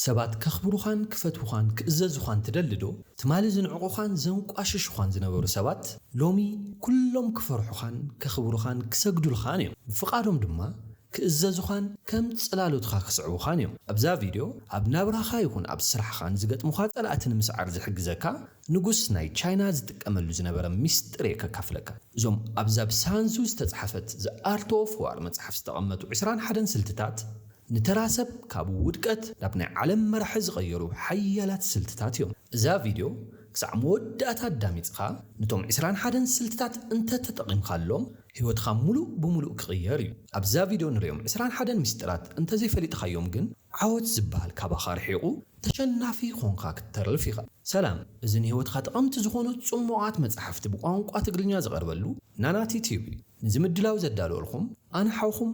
ሰባት ከኽብሩኻን ክፈትዉኻን ክእዘዙኻን ትደሊዶ? ትማሊ ዝንዕቁኻን ዘንቋሽሹኻን ዝነበሩ ሰባት ሎሚ ኩሎም ክፈርሑኻን ከኽብሩኻን ክሰግዱልኻን እዮም። ብፍቓዶም ድማ ክእዘዙኻን ከም ጽላሎትኻ ክስዕቡኻን እዮም። ኣብዛ ቪድዮ ኣብ ናብራኻ ይኹን ኣብ ስራሕኻ ንዝገጥሙኻ ጸላእቲ ንምስዓር ዝሕግዘካ ንጉስ ናይ ቻይና ዝጥቀመሉ ዝነበረ ሚስጥር እየ ከካፍለካ። እዞም ኣብዛ ብሳንዙ ዝተጽሓፈት The Art of War መጽሓፍ ዝተቐመጡ ዕስራን ሓደን ስልትታት፣ ንተራ ሰብ ካብ ውድቀት ናብ ናይ ዓለም መራሒ ዝቐየሩ ሓያላት ስልትታት እዮም። እዛ ቪድዮ ክሳዕ መወዳእታ ኣዳሚጽኻ ንቶም ዕስራን ሓደን ስልትታት እንተ ተጠቒምካሎም ህይወትኻ ምሉእ ብምሉእ ክቕየር እዩ። ኣብዛ ቪድዮ ንርእዮም ዕስራን ሓደን ምስጢራት እንተ ዘይፈሊጥኻዮም ግን ዓወት ዝበሃል ካባኻ ርሒቑ ተሸናፊ ኾንካ ክትተርፍ ኢኻ። ሰላም እዚ ንህይወትካ ጠቐምቲ ዝኾኑ ጽሙቓት መጻሕፍቲ ብቋንቋ ትግርኛ ዝቐርበሉ ናናቲ ቲዩብ እዩ። ነዚ ምድላው ዘዳለወልኩም ኣነ ሓውኩም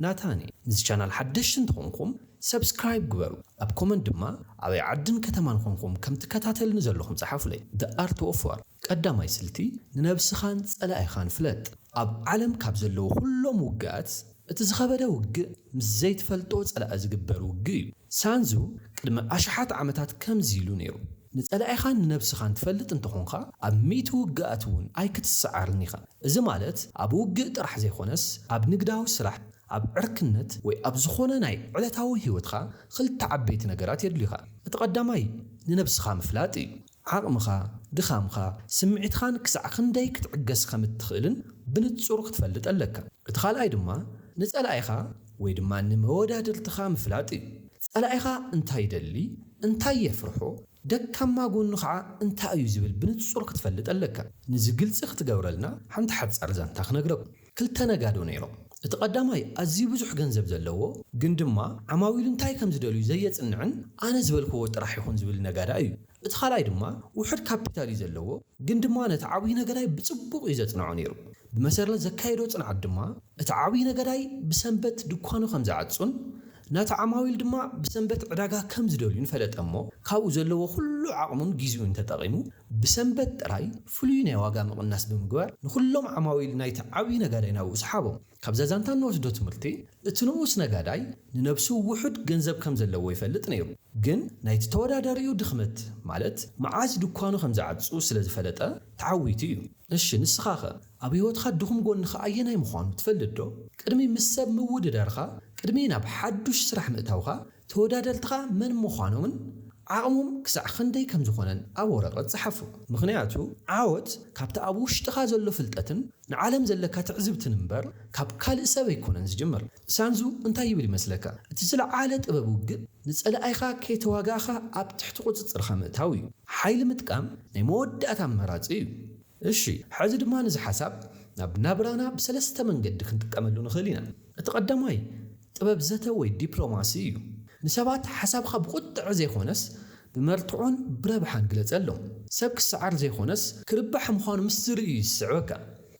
ናታን እየ ነዚ ቻናል ሓደሽቲ እንተኮንኩም subscribe ግበሩ ኣብ comment ድማ ኣበይ ዓድን ከተማን ኮንኩም ከም ትከታተልኒ ዘለኩም ጸሓፉለይ the art of war ቀዳማይ ስልቲ ንነብስካን ጸላኢካን ፍለጥ ኣብ ዓለም ካብ ዘለዉ ኩሎም ውግኣት እቲ ዝከበደ ውግእ ምስ ዘይትፈልጦ ጸላኢ ዝግበር ውግእ እዩ ሳንዙ ቅድሚ ኣሽሓት ዓመታት ከምዚ ኢሉ ነይሩ ንጸላኢኻን ንነብስኻን ትፈልጥ እንተ ኾንካ፣ ኣብ ሚእቲ ውግኣት እውን ኣይክትሰዓርን ኢኻ። እዚ ማለት ኣብ ውግእ ጥራሕ ዘይኮነስ፣ ኣብ ንግዳዊ ስራሕ፣ ኣብ ዕርክነት ወይ ኣብ ዝኾነ ናይ ዕለታዊ ህይወትካ ክልተ ዓበይቲ ነገራት የድልዩኻ። እቲ ቀዳማይ ንነብስኻ ምፍላጥ እዩ። ዓቕምኻ፣ ድኻምካ፣ ስምዒትኻን ክሳዕ ክንደይ ክትዕገስ ከም እትኽእልን ብንጹር ክትፈልጥ ኣለካ። እቲ ካልኣይ ድማ ንጸላኢኻ ወይ ድማ ንመወዳድርትኻ ምፍላጥ እዩ። ጸላኢኻ እንታይ ይደሊ፣ እንታይ የፍርሖ፣ ደካማ ጎኑ ኸዓ እንታይ እዩ ዝብል ብንጹር ክትፈልጥ ኣለካ። ንዚ ግልጺ ክትገብረልና ሓንቲ ሓጻር ዛንታ ክነግረኩም። ክልተ ነጋዶ ነይሮም። እቲ ቀዳማይ ኣዝዩ ብዙሕ ገንዘብ ዘለዎ ግን ድማ ዓማዊሉ እንታይ ከም ዝደልዩ ዘየጽንዕን ኣነ ዝበልክዎ ጥራሕ ይኹን ዝብል ነጋዳይ እዩ። እቲ ካልኣይ ድማ ውሑድ ካፒታል እዩ ዘለዎ፣ ግን ድማ ነቲ ዓብዩ ነገዳይ ብጽቡቕ እዩ ዘጽንዖ ነይሩ። ብመሰረት ዘካየዶ ጽንዓት ድማ እቲ ዓብዩ ነገዳይ ብሰንበት ድኳኑ ከም ዝዓጹን ናቲ ዓማዊል ድማ ብሰንበት ዕዳጋ ከም ዝደልዩን ፈለጠ እሞ ካብኡ ዘለዎ ኩሉ ዓቕሙን ጊዚኡን ተጠቒሙ ብሰንበት ጥራይ ፍሉይ ናይ ዋጋ ምቕናስ ብምግባር ንኹሎም ዓማዊል ናይቲ ዓብዩ ነጋዳይ ናብኡ ሰሓቦም። ካብዛ ዛንታ እንወስዶ ትምህርቲ እቲ ንኡስ ነጋዳይ ንነብሱ ውሑድ ገንዘብ ከም ዘለዎ ይፈልጥ ነይሩ ግን ናይቲ ተወዳዳሪኡ ድኽመት ማለት መዓዝ ድኳኑ ከም ዝዓጹ ስለ ዝፈለጠ ተዓዊቱ እዩ። እሺ ንስኻኸ ኣብ ህይወትኻ ድኹም ጎንኻ ኣየናይ ምዃኑ ትፈልጥ ዶ? ቅድሚ ምስ ሰብ ምውድዳርካ ቅድሚ ናብ ሓዱሽ ስራሕ ምእታውካ ተወዳደርትኻ መን ምዃኖምን ዓቕሞም ክሳዕ ክንደይ ከም ዝኾነን ኣብ ወረቐት ጽሓፎ። ምኽንያቱ ዓወት ካብቲ ኣብ ውሽጥኻ ዘሎ ፍልጠትን ንዓለም ዘለካ ትዕዝብትን እምበር ካብ ካልእ ሰብ ኣይኮነን ዝጅምር። ሳንዙ እንታይ ይብል ይመስለካ፣ እቲ ዝለዓለ ጥበብ ውግእ ንጸላኢኻ ከይተዋጋእኻ ኣብ ትሕቲ ቁጽጽርካ ምእታው እዩ። ሓይሊ ምጥቃም ናይ መወዳእታ ኣማራጺ እዩ። እሺ ሕዚ ድማ ነዚ ሓሳብ ናብ ናብራና ብሰለስተ መንገዲ ክንጥቀመሉ ንኽእል ኢና። እቲ ቀዳማይ ጥበብ ዘተ ወይ ዲፕሎማሲ እዩ። ንሰባት ሓሳብኻ ብቑጥዐ ዘይኮነስ ብመርትዖን ብረብሓን ግለፀሎም። ሰብ ክሰዓር ዘይኮነስ ክርባሕ ምዃኑ ምስ ዝርኢ እዩ ዝስዕበካ።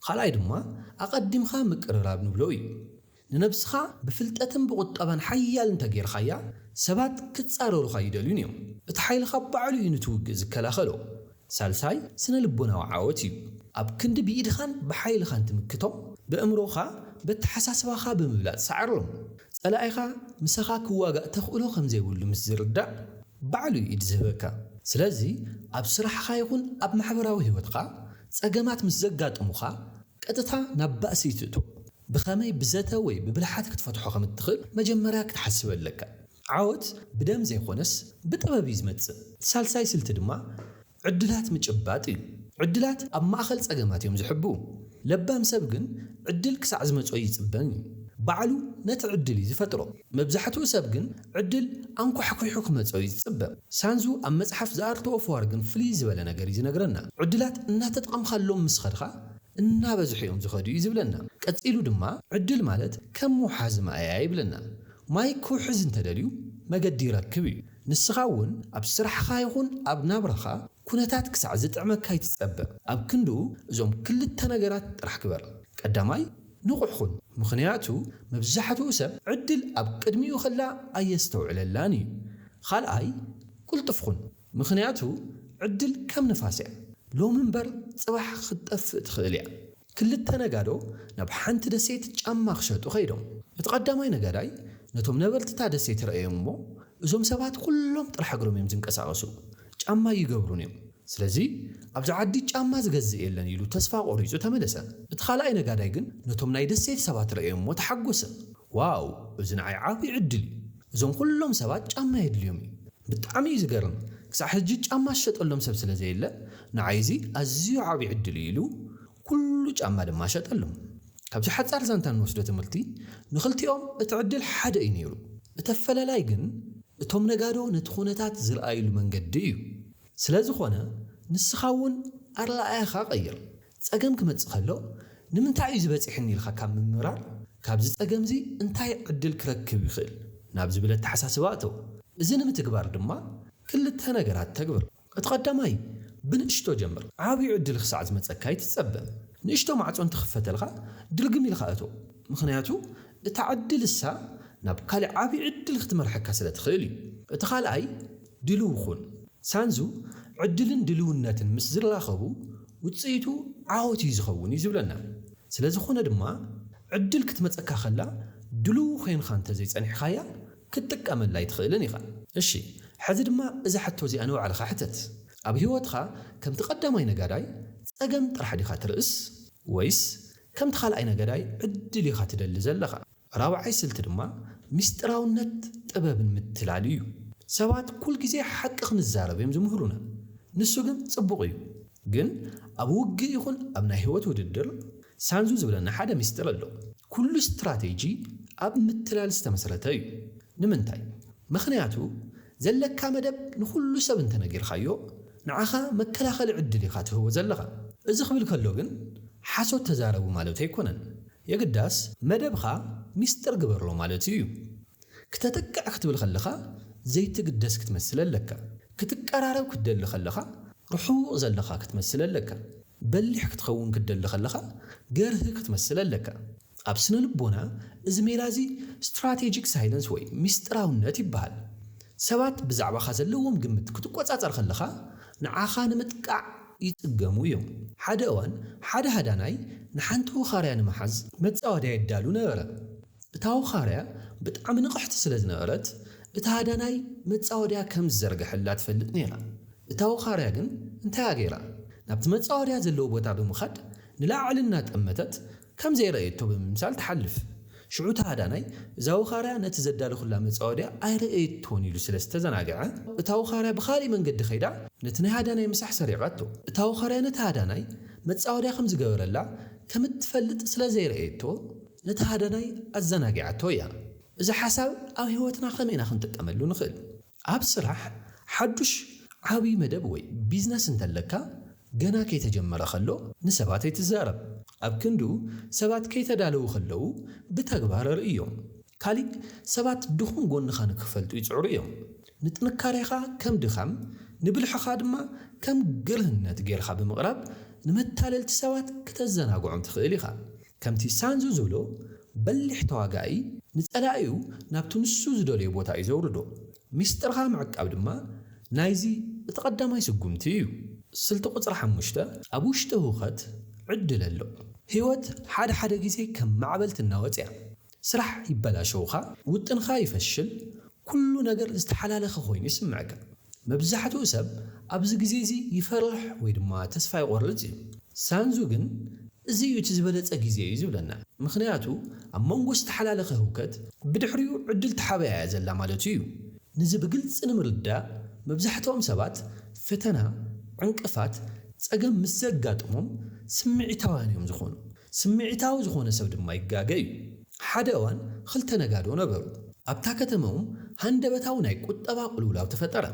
ኻልኣይ ድማ ኣቐዲምኻ ምቅርራብ ንብሎ እዩ። ንነብስኻ ብፍልጠትን ብቑጠባን ሓያል እንተገይርኻያ ሰባት ክፃረሩኻ ኣይደልዩን እዮም። እቲ ሓይልኻ ባዕሉ እዩ ንቲ ውግእ ዝከላኸሎ። ሳልሳይ ስነ-ልቦናዊ ዓወት እዩ። ኣብ ክንዲ ብኢድኻን ብሓይልኻን ትምክቶም፣ በእምሮኻ በተሓሳስባኻ ብምብላጽ ሰዓሮም። ጸላኢኻ ምሳኻ ክዋጋእ ተኽእሎ ከም ዘይብሉ ምስ ዝርዳእ ባዕሉ እዩ ኢድ ዝህበካ። ስለዚ ኣብ ስራሕኻ ይኹን ኣብ ማሕበራዊ ህይወትካ ጸገማት ምስ ዘጋጥሙኻ፣ ቀጥታ ናብ ባእሲ ይትእቶ። ብኸመይ ብዘተ ወይ ብብልሓት ክትፈትሖ ከም እትኽእል መጀመርያ ክትሓስብ ኣለካ። ዓወት ብደም ዘይኮነስ ብጥበብ እዩ ዝመጽእ። እቲ ሳልሳይ ስልቲ ድማ ዕድላት ምጭባጥ እዩ። ዕድላት ኣብ ማእከል ጸገማት እዮም ዝሕብኡ። ለባም ሰብ ግን ዕድል ክሳዕ ዝመጾ ኣይጽበን እዩ። ባዕሉ ነቲ ዕድል እዩ ዝፈጥሮ። መብዛሕትኡ ሰብ ግን ዕድል ኣንኳሕኲሑ ክመጾ'ዩ ዝጽበ። ሳንዙ ኣብ መጽሓፍ The Art of War ግን ፍልይ ዝበለ ነገር'ዩ ዝነግረና። ዕድላት እናተጠቐምካሎም ምስ ኸድኻ እናበዝሑ'ዮም ዝኸዱ'ዩ ዝብለና። ቀጺሉ ድማ ዕድል ማለት ከም ምውሓዝ ማይ'ያ ይብለና። ማይ ክውሕዝ እንተደልዩ መገዲ ይረክብ'ዩ። ንስኻ'ውን ኣብ ስራሕኻ ይኹን ኣብ ናብራኻ ኩነታት ክሳዕ ዝጥዕመካ ኣይትጸበ። ኣብ ክንድኡ እዞም ክልተ ነገራት ጥራሕ ግበር። ቀዳማይ፣ ንቑሕ ኹን ምኽንያቱ መብዛሕትኡ ሰብ ዕድል ኣብ ቅድሚኡ ኸላ ኣየስተውዕለላን እዩ። ኻልኣይ ቁልጡፍ ኹን ምኽንያቱ ዕድል ከም ንፋስ እያ ሎሚ እምበር ፅባሕ ኽትጠፍእ ትኽእል እያ። ክልተ ነጋዶ ናብ ሓንቲ ደሴት ጫማ ኽሸጡ ኸይዶም። እቲ ቐዳማይ ነጋዳይ ነቶም ነበርቲ እታ ደሴት ረኣዮም እሞ እዞም ሰባት ኹሎም ጥራሕ እግሮም እዮም ዝንቀሳቐሱ ጫማ ኣይገብሩን እዮም። ስለዚ ኣብዚ ዓዲ ጫማ ዝገዝእ የለን ኢሉ ተስፋ ቆሪጹ ተመለሰ። እቲ ካልኣይ ነጋዳይ ግን ነቶም ናይ ደሴት ሰባት ረእዮሞ ተሓጎሰ። ዋው እዚ ንዓይ ዓቢ ዕድል እዩ። እዞም ኩሎም ሰባት ጫማ የድልዮም እዩ። ብጣዕሚ እዩ ዝገርም ክሳዕ ሕጂ ጫማ ዝሸጠሎም ሰብ ስለ ዘየለ ንዓይ እዚ ኣዝዩ ዓቢ ዕድል እዩ ኢሉ ኩሉ ጫማ ድማ ሸጠሎም። ካብዚ ሓጻር ዛንታ እንወስዶ ትምህርቲ ንኽልቲኦም እቲ ዕድል ሓደ እዩ ነይሩ። እቲ ኣፈላላይ ግን እቶም ነጋዶ ነቲ ኩነታት ዝርኣይሉ መንገዲ እዩ። ስለ ዝኾነ ንስኻ እውን ኣረኣእያኻ ቀይር። ጸገም ክመጽእ ከሎ ንምንታይ እዩ እዚ በጺሑኒ ኢልካ ካብ ምምራር ካብዚ ጸገም እዚ እንታይ ዕድል ክረክብ ይኽእል ናብ ዝብል ኣተሓሳስባ እተው። እዚ ንምትግባር ድማ ክልተ ነገራት ተግብር። እቲ ቀዳማይ ብንእሽቶ ጀምር። ዓብዩ ዕድል ክሳዕ ዝመጸካ ኣይትጸበ። ንእሽቶ ማዕጾ እንትኽፈተልካ ድርግም ኢልካ እቶ። ምኽንያቱ እታ ዕድል እሳ ናብ ካሊእ ዓብዪ ዕድል ክትመርሐካ ስለ ትኽእል እዩ። እቲ ካልኣይ ድሉው ኹን። ሳንዙ ዕድልን ድልውነትን ምስ ዝራኸቡ ውፅኢቱ ዓወት እዩ ዝኸውን እዩ ዝብለና። ስለዝኾነ ድማ ዕድል ክትመፀካ ከላ ድሉው ኾይንኻ እንተዘይፀኒሕኻያ ክትጥቀመላ ኣይትኽእልን ኢኻ። እሺ ሕዚ ድማ እዛ ሕቶ እዚኣ ንባዕልኻ ሕተት። ኣብ ህይወትኻ ከምቲ ቀዳማይ ነጋዳይ ፀገም ጥራሕ ዲኻ ትርእስ ወይስ ከምቲ ካልኣይ ነጋዳይ ዕድል ኢኻ ትደሊ ዘለኻ? ራብዓይ ስልቲ ድማ ምስጢራውነት ጥበብን ምትላል ኢዩ። ሰባት ኩል ግዜ ሓቂ ክንዛረብ እዮም ዝምህሩና ንሱ ግን ጽቡቕ ኢዩ ግን ኣብ ውግእ ይኹን ኣብ ናይ ሂወት ውድድር ሳንዙ ዝብለና ሓደ ምስጢር ኣሎ ኩሉ ስትራቴጂ ኣብ ምትላል ዝተመስረተ ኢዩ ንምንታይ መኽንያቱ ዘለካ መደብ ንኹሉ ሰብ እንተነጊርካዮ ንዓኻ መከላኸሊ ዕድል ኢኻ ትህቦ ዘለኻ። እዚ ክብል ከሎ ግን ሓሶት ተዛረቡ ማለቱ ኣይኮነን። የግዳስ መደብኻ ሚስጥር ግበሮ ማለቱ እዩ። ክተጥቅዕ ክትብል ከለኻ ዘይትግደስ ክትመስል ኣለካ። ክትቀራረብ ክትደሊ ከለኻ ርሑቕ ዘለኻ ክትመስል ኣለካ። በሊሕ ክትኸውን ክትደሊ ከለኻ ገርሂ ክትመስል ኣለካ። ኣብ ስነ-ልቦና እዚ ሜላ እዚ ስትራቴጂክ ሳይለንስ ወይ ምስጢራውነት ይበሃል። ሰባት ብዛዕባኻ ዘለዎም ግምት ክትቈጻጸር ከለኻ ንዓኻ ንምጥቃዕ ይጽገሙ እዮም። ሓደ እዋን ሓደ ሃዳናይ ንሓንቲ ወኻርያ ንምሓዝ መጻወድያ የዳሉ ነበረ። እታ ወኻርያ ብጣዕሚ ንቕሕቲ ስለ ዝነበረት እቲ ሃዳናይ መጻወድያ ከም ዝዘርገሐላ ትፈልጥ ነይራ። እታ ወኻርያ ግን እንታይ እያ ገይራ? ናብቲ መጻወድያ ዘለዎ ቦታ ብምኻድ ንላዕሊ እናጠመተት ከም ዘይረኣየቶ ብምምሳል ትሓልፍ። ሽዑ እቲ ሃዳናይ፣ እዛ ወኻርያ ነቲ ዘዳለኹላ መጻወድያ ኣይረኣየቶን ኢሉ ስለ ዝተዘናግዐ፣ እታ ወኻርያ ብኻልእ መንገዲ ከይዳ ነቲ ናይ ሃዳናይ ምሳሕ ሰሪቓቶ። እታ ወኻርያ ነቲ ሃዳናይ መጻወድያ ከም ዝገበረላ ከም እትፈልጥ ስለ ዘይረኣየቶ፣ ነቲ ሃዳናይ ኣዘናጊዓቶ እያ። እዚ ሓሳብ ኣብ ህይወትና ከመይ ኢና ክንጥቀመሉ ንኽእል? ኣብ ስራሕ ሓዱሽ ዓብዪ መደብ ወይ ቢዝነስ እንተለካ፣ ገና ከይተጀመረ ከሎ ንሰባት ኣይትዛረብ። ኣብ ክንድኡ ሰባት ከይተዳለዉ ከለዉ ብተግባር ኣርእዮም። ካሊእ ሰባት ድኹም ጎንኻ ንክፈልጡ ይጽዕሩ እዮም። ንጥንካሬኻ ከም ድኻም ንብልሕኻ ድማ ከም ግርህነት ጌርኻ ብምቕራብ ንመታለልቲ ሰባት ክተዘናግዖም ትኽእል ኢኻ። ከምቲ ሳንዙ ዝብሎ በሊሕ ተዋጋኣይ ንጸላኢኡ ናብቲ ንሱ ዝደልዮ ቦታ እዩ ዘውርዶ። ሚስጥርካ ምዕቃብ ድማ ናይዚ እቲ ቀዳማይ ስጉምቲ እዩ። ስልቲ ቁጽሪ ሓሙሽተ ኣብ ውሽጢ ህውከት ዕድል ኣሎ። ህይወት ሓደ ሓደ ግዜ ከም ማዕበል ትናወጽ እያ። ስራሕ ይበላሸውካ፣ ውጥንካ ይፈሽል፣ ኩሉ ነገር ዝተሓላለኸ ኮይኑ ይስምዕካ። መብዛሕትኡ ሰብ ኣብዚ ግዜ እዚ ይፈርሕ ወይ ድማ ተስፋ ይቆርጽ እዩ። ሳንዙ ግን እዚ እዩ እቲ ዝበለጸ ግዜ እዩ ዝብለና። ምኽንያቱ ኣብ መንጎ ዝተሓላለኸ ህውከት ብድሕሪኡ ዕድል ተሓበያ እያ ዘላ ማለቱ እዩ። ነዚ ብግልጺ ንምርዳእ መብዛሕትኦም ሰባት ፈተና፣ ዕንቅፋት፣ ጸገም ምስ ዘጋጥሞም ስምዒታውያን እዮም ዝኾኑ። ስምዒታዊ ዝኾነ ሰብ ድማ ይጋገ እዩ። ሓደ እዋን ኽልተ ነጋዶ ነበሩ። ኣብታ ከተመኦም ሃንደበታዊ ናይ ቁጠባ ቅልውላው ተፈጠረ።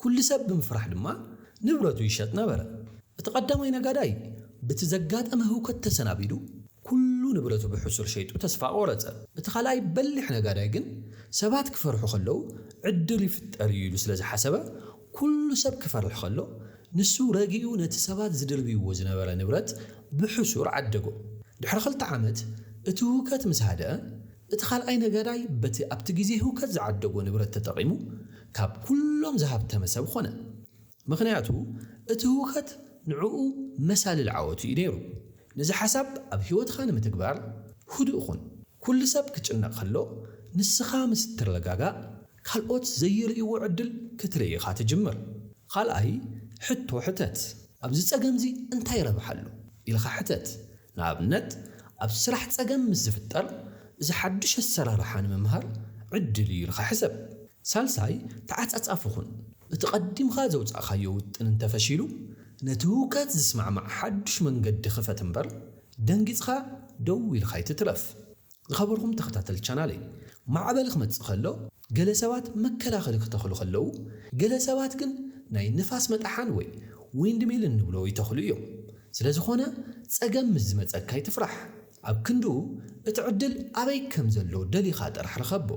ኩሉ ሰብ ብምፍራሕ ድማ ንብረቱ ይሸጥ ነበረ። እቲ ቀዳማይ ነጋዳይ ብቲ ዘጋጠመ ህውከት ተሰናቢዱ ኩሉ ንብረቱ ብሕሱር ሸይጡ ተስፋ ቆረጸ። እቲ ካልኣይ በሊሕ ነጋዳይ ግን ሰባት ክፈርሑ ከለዉ ዕድል ይፍጠር እዩ ኢሉ ስለ ዝሓሰበ ኩሉ ሰብ ክፈርሕ ከሎ ንሱ ረጊኡ ነቲ ሰባት ዝድርብይዎ ዝነበረ ንብረት ብሕሱር ዓደጎ። ድሕሪ ክልተ ዓመት እቲ ህውከት ምስ ሃደኣ እቲ ካልኣይ ነጋዳይ በቲ ኣብቲ ግዜ ህውከት ዝዓደጎ ንብረት ተጠቒሙ ካብ ኩሎም ዝሃብተመ ሰብ ኾነ። ምኽንያቱ እቲ ህውከት ንዕኡ መሳልል ዓወቱ እዩ ነይሩ። ነዚ ሓሳብ ኣብ ህይወትኻ ንምትግባር ህዱእ ኹን። ኩሉ ሰብ ክጭነቕ ከሎ ንስኻ ምስ እትረጋጋእ ካልኦት ዘይርእይዎ ዕድል ክትርኢ ኢኻ ትጅምር። ኻልኣይ ሕቶ ሕተት፣ ኣብዚ ጸገም'ዚ እንታይ ረብሓ ኣሎ? ኢልካ ሕተት። ንኣብነት፣ ኣብ ስራሕ ጸገም ምስ ዝፍጠር፣ እዚ ሓድሽ ኣሰራርሓ ንምምሃር ዕድል እዩ ኢልካ ሕሰብ። ሳልሳይ ተዓጻጻፊ ኹን፣ እቲ ቀዲምካ ዘውጻእካዮ ውጥን እንተፈሺሉ፣ ነቲ ህውከት ዝስማዕማዕ ሓድሽ መንገዲ ኽፈት እምበር፣ ደንጊጽካ ደው ኢልካ ኣይትትረፍ። ዝኸበርኩም ተኸታተልቲ ቻናለይ ማዕበል ክመጽእ ከሎ ገለ ሰባት መከላኸሊ ክተኽሉ ከለዉ ገለ ሰባት ግን ናይ ንፋስ መጥሓን ወይ ዊንድ ሚል እንብሎ ይተኽሉ እዮም ስለ ዝኾነ ጸገም ምስ ዝመጸካ ኣይትፍራሕ ኣብ ክንድኡ እቲ ዕድል ኣበይ ከም ዘሎ ደሊኻ ጥራሕ ርኸቦ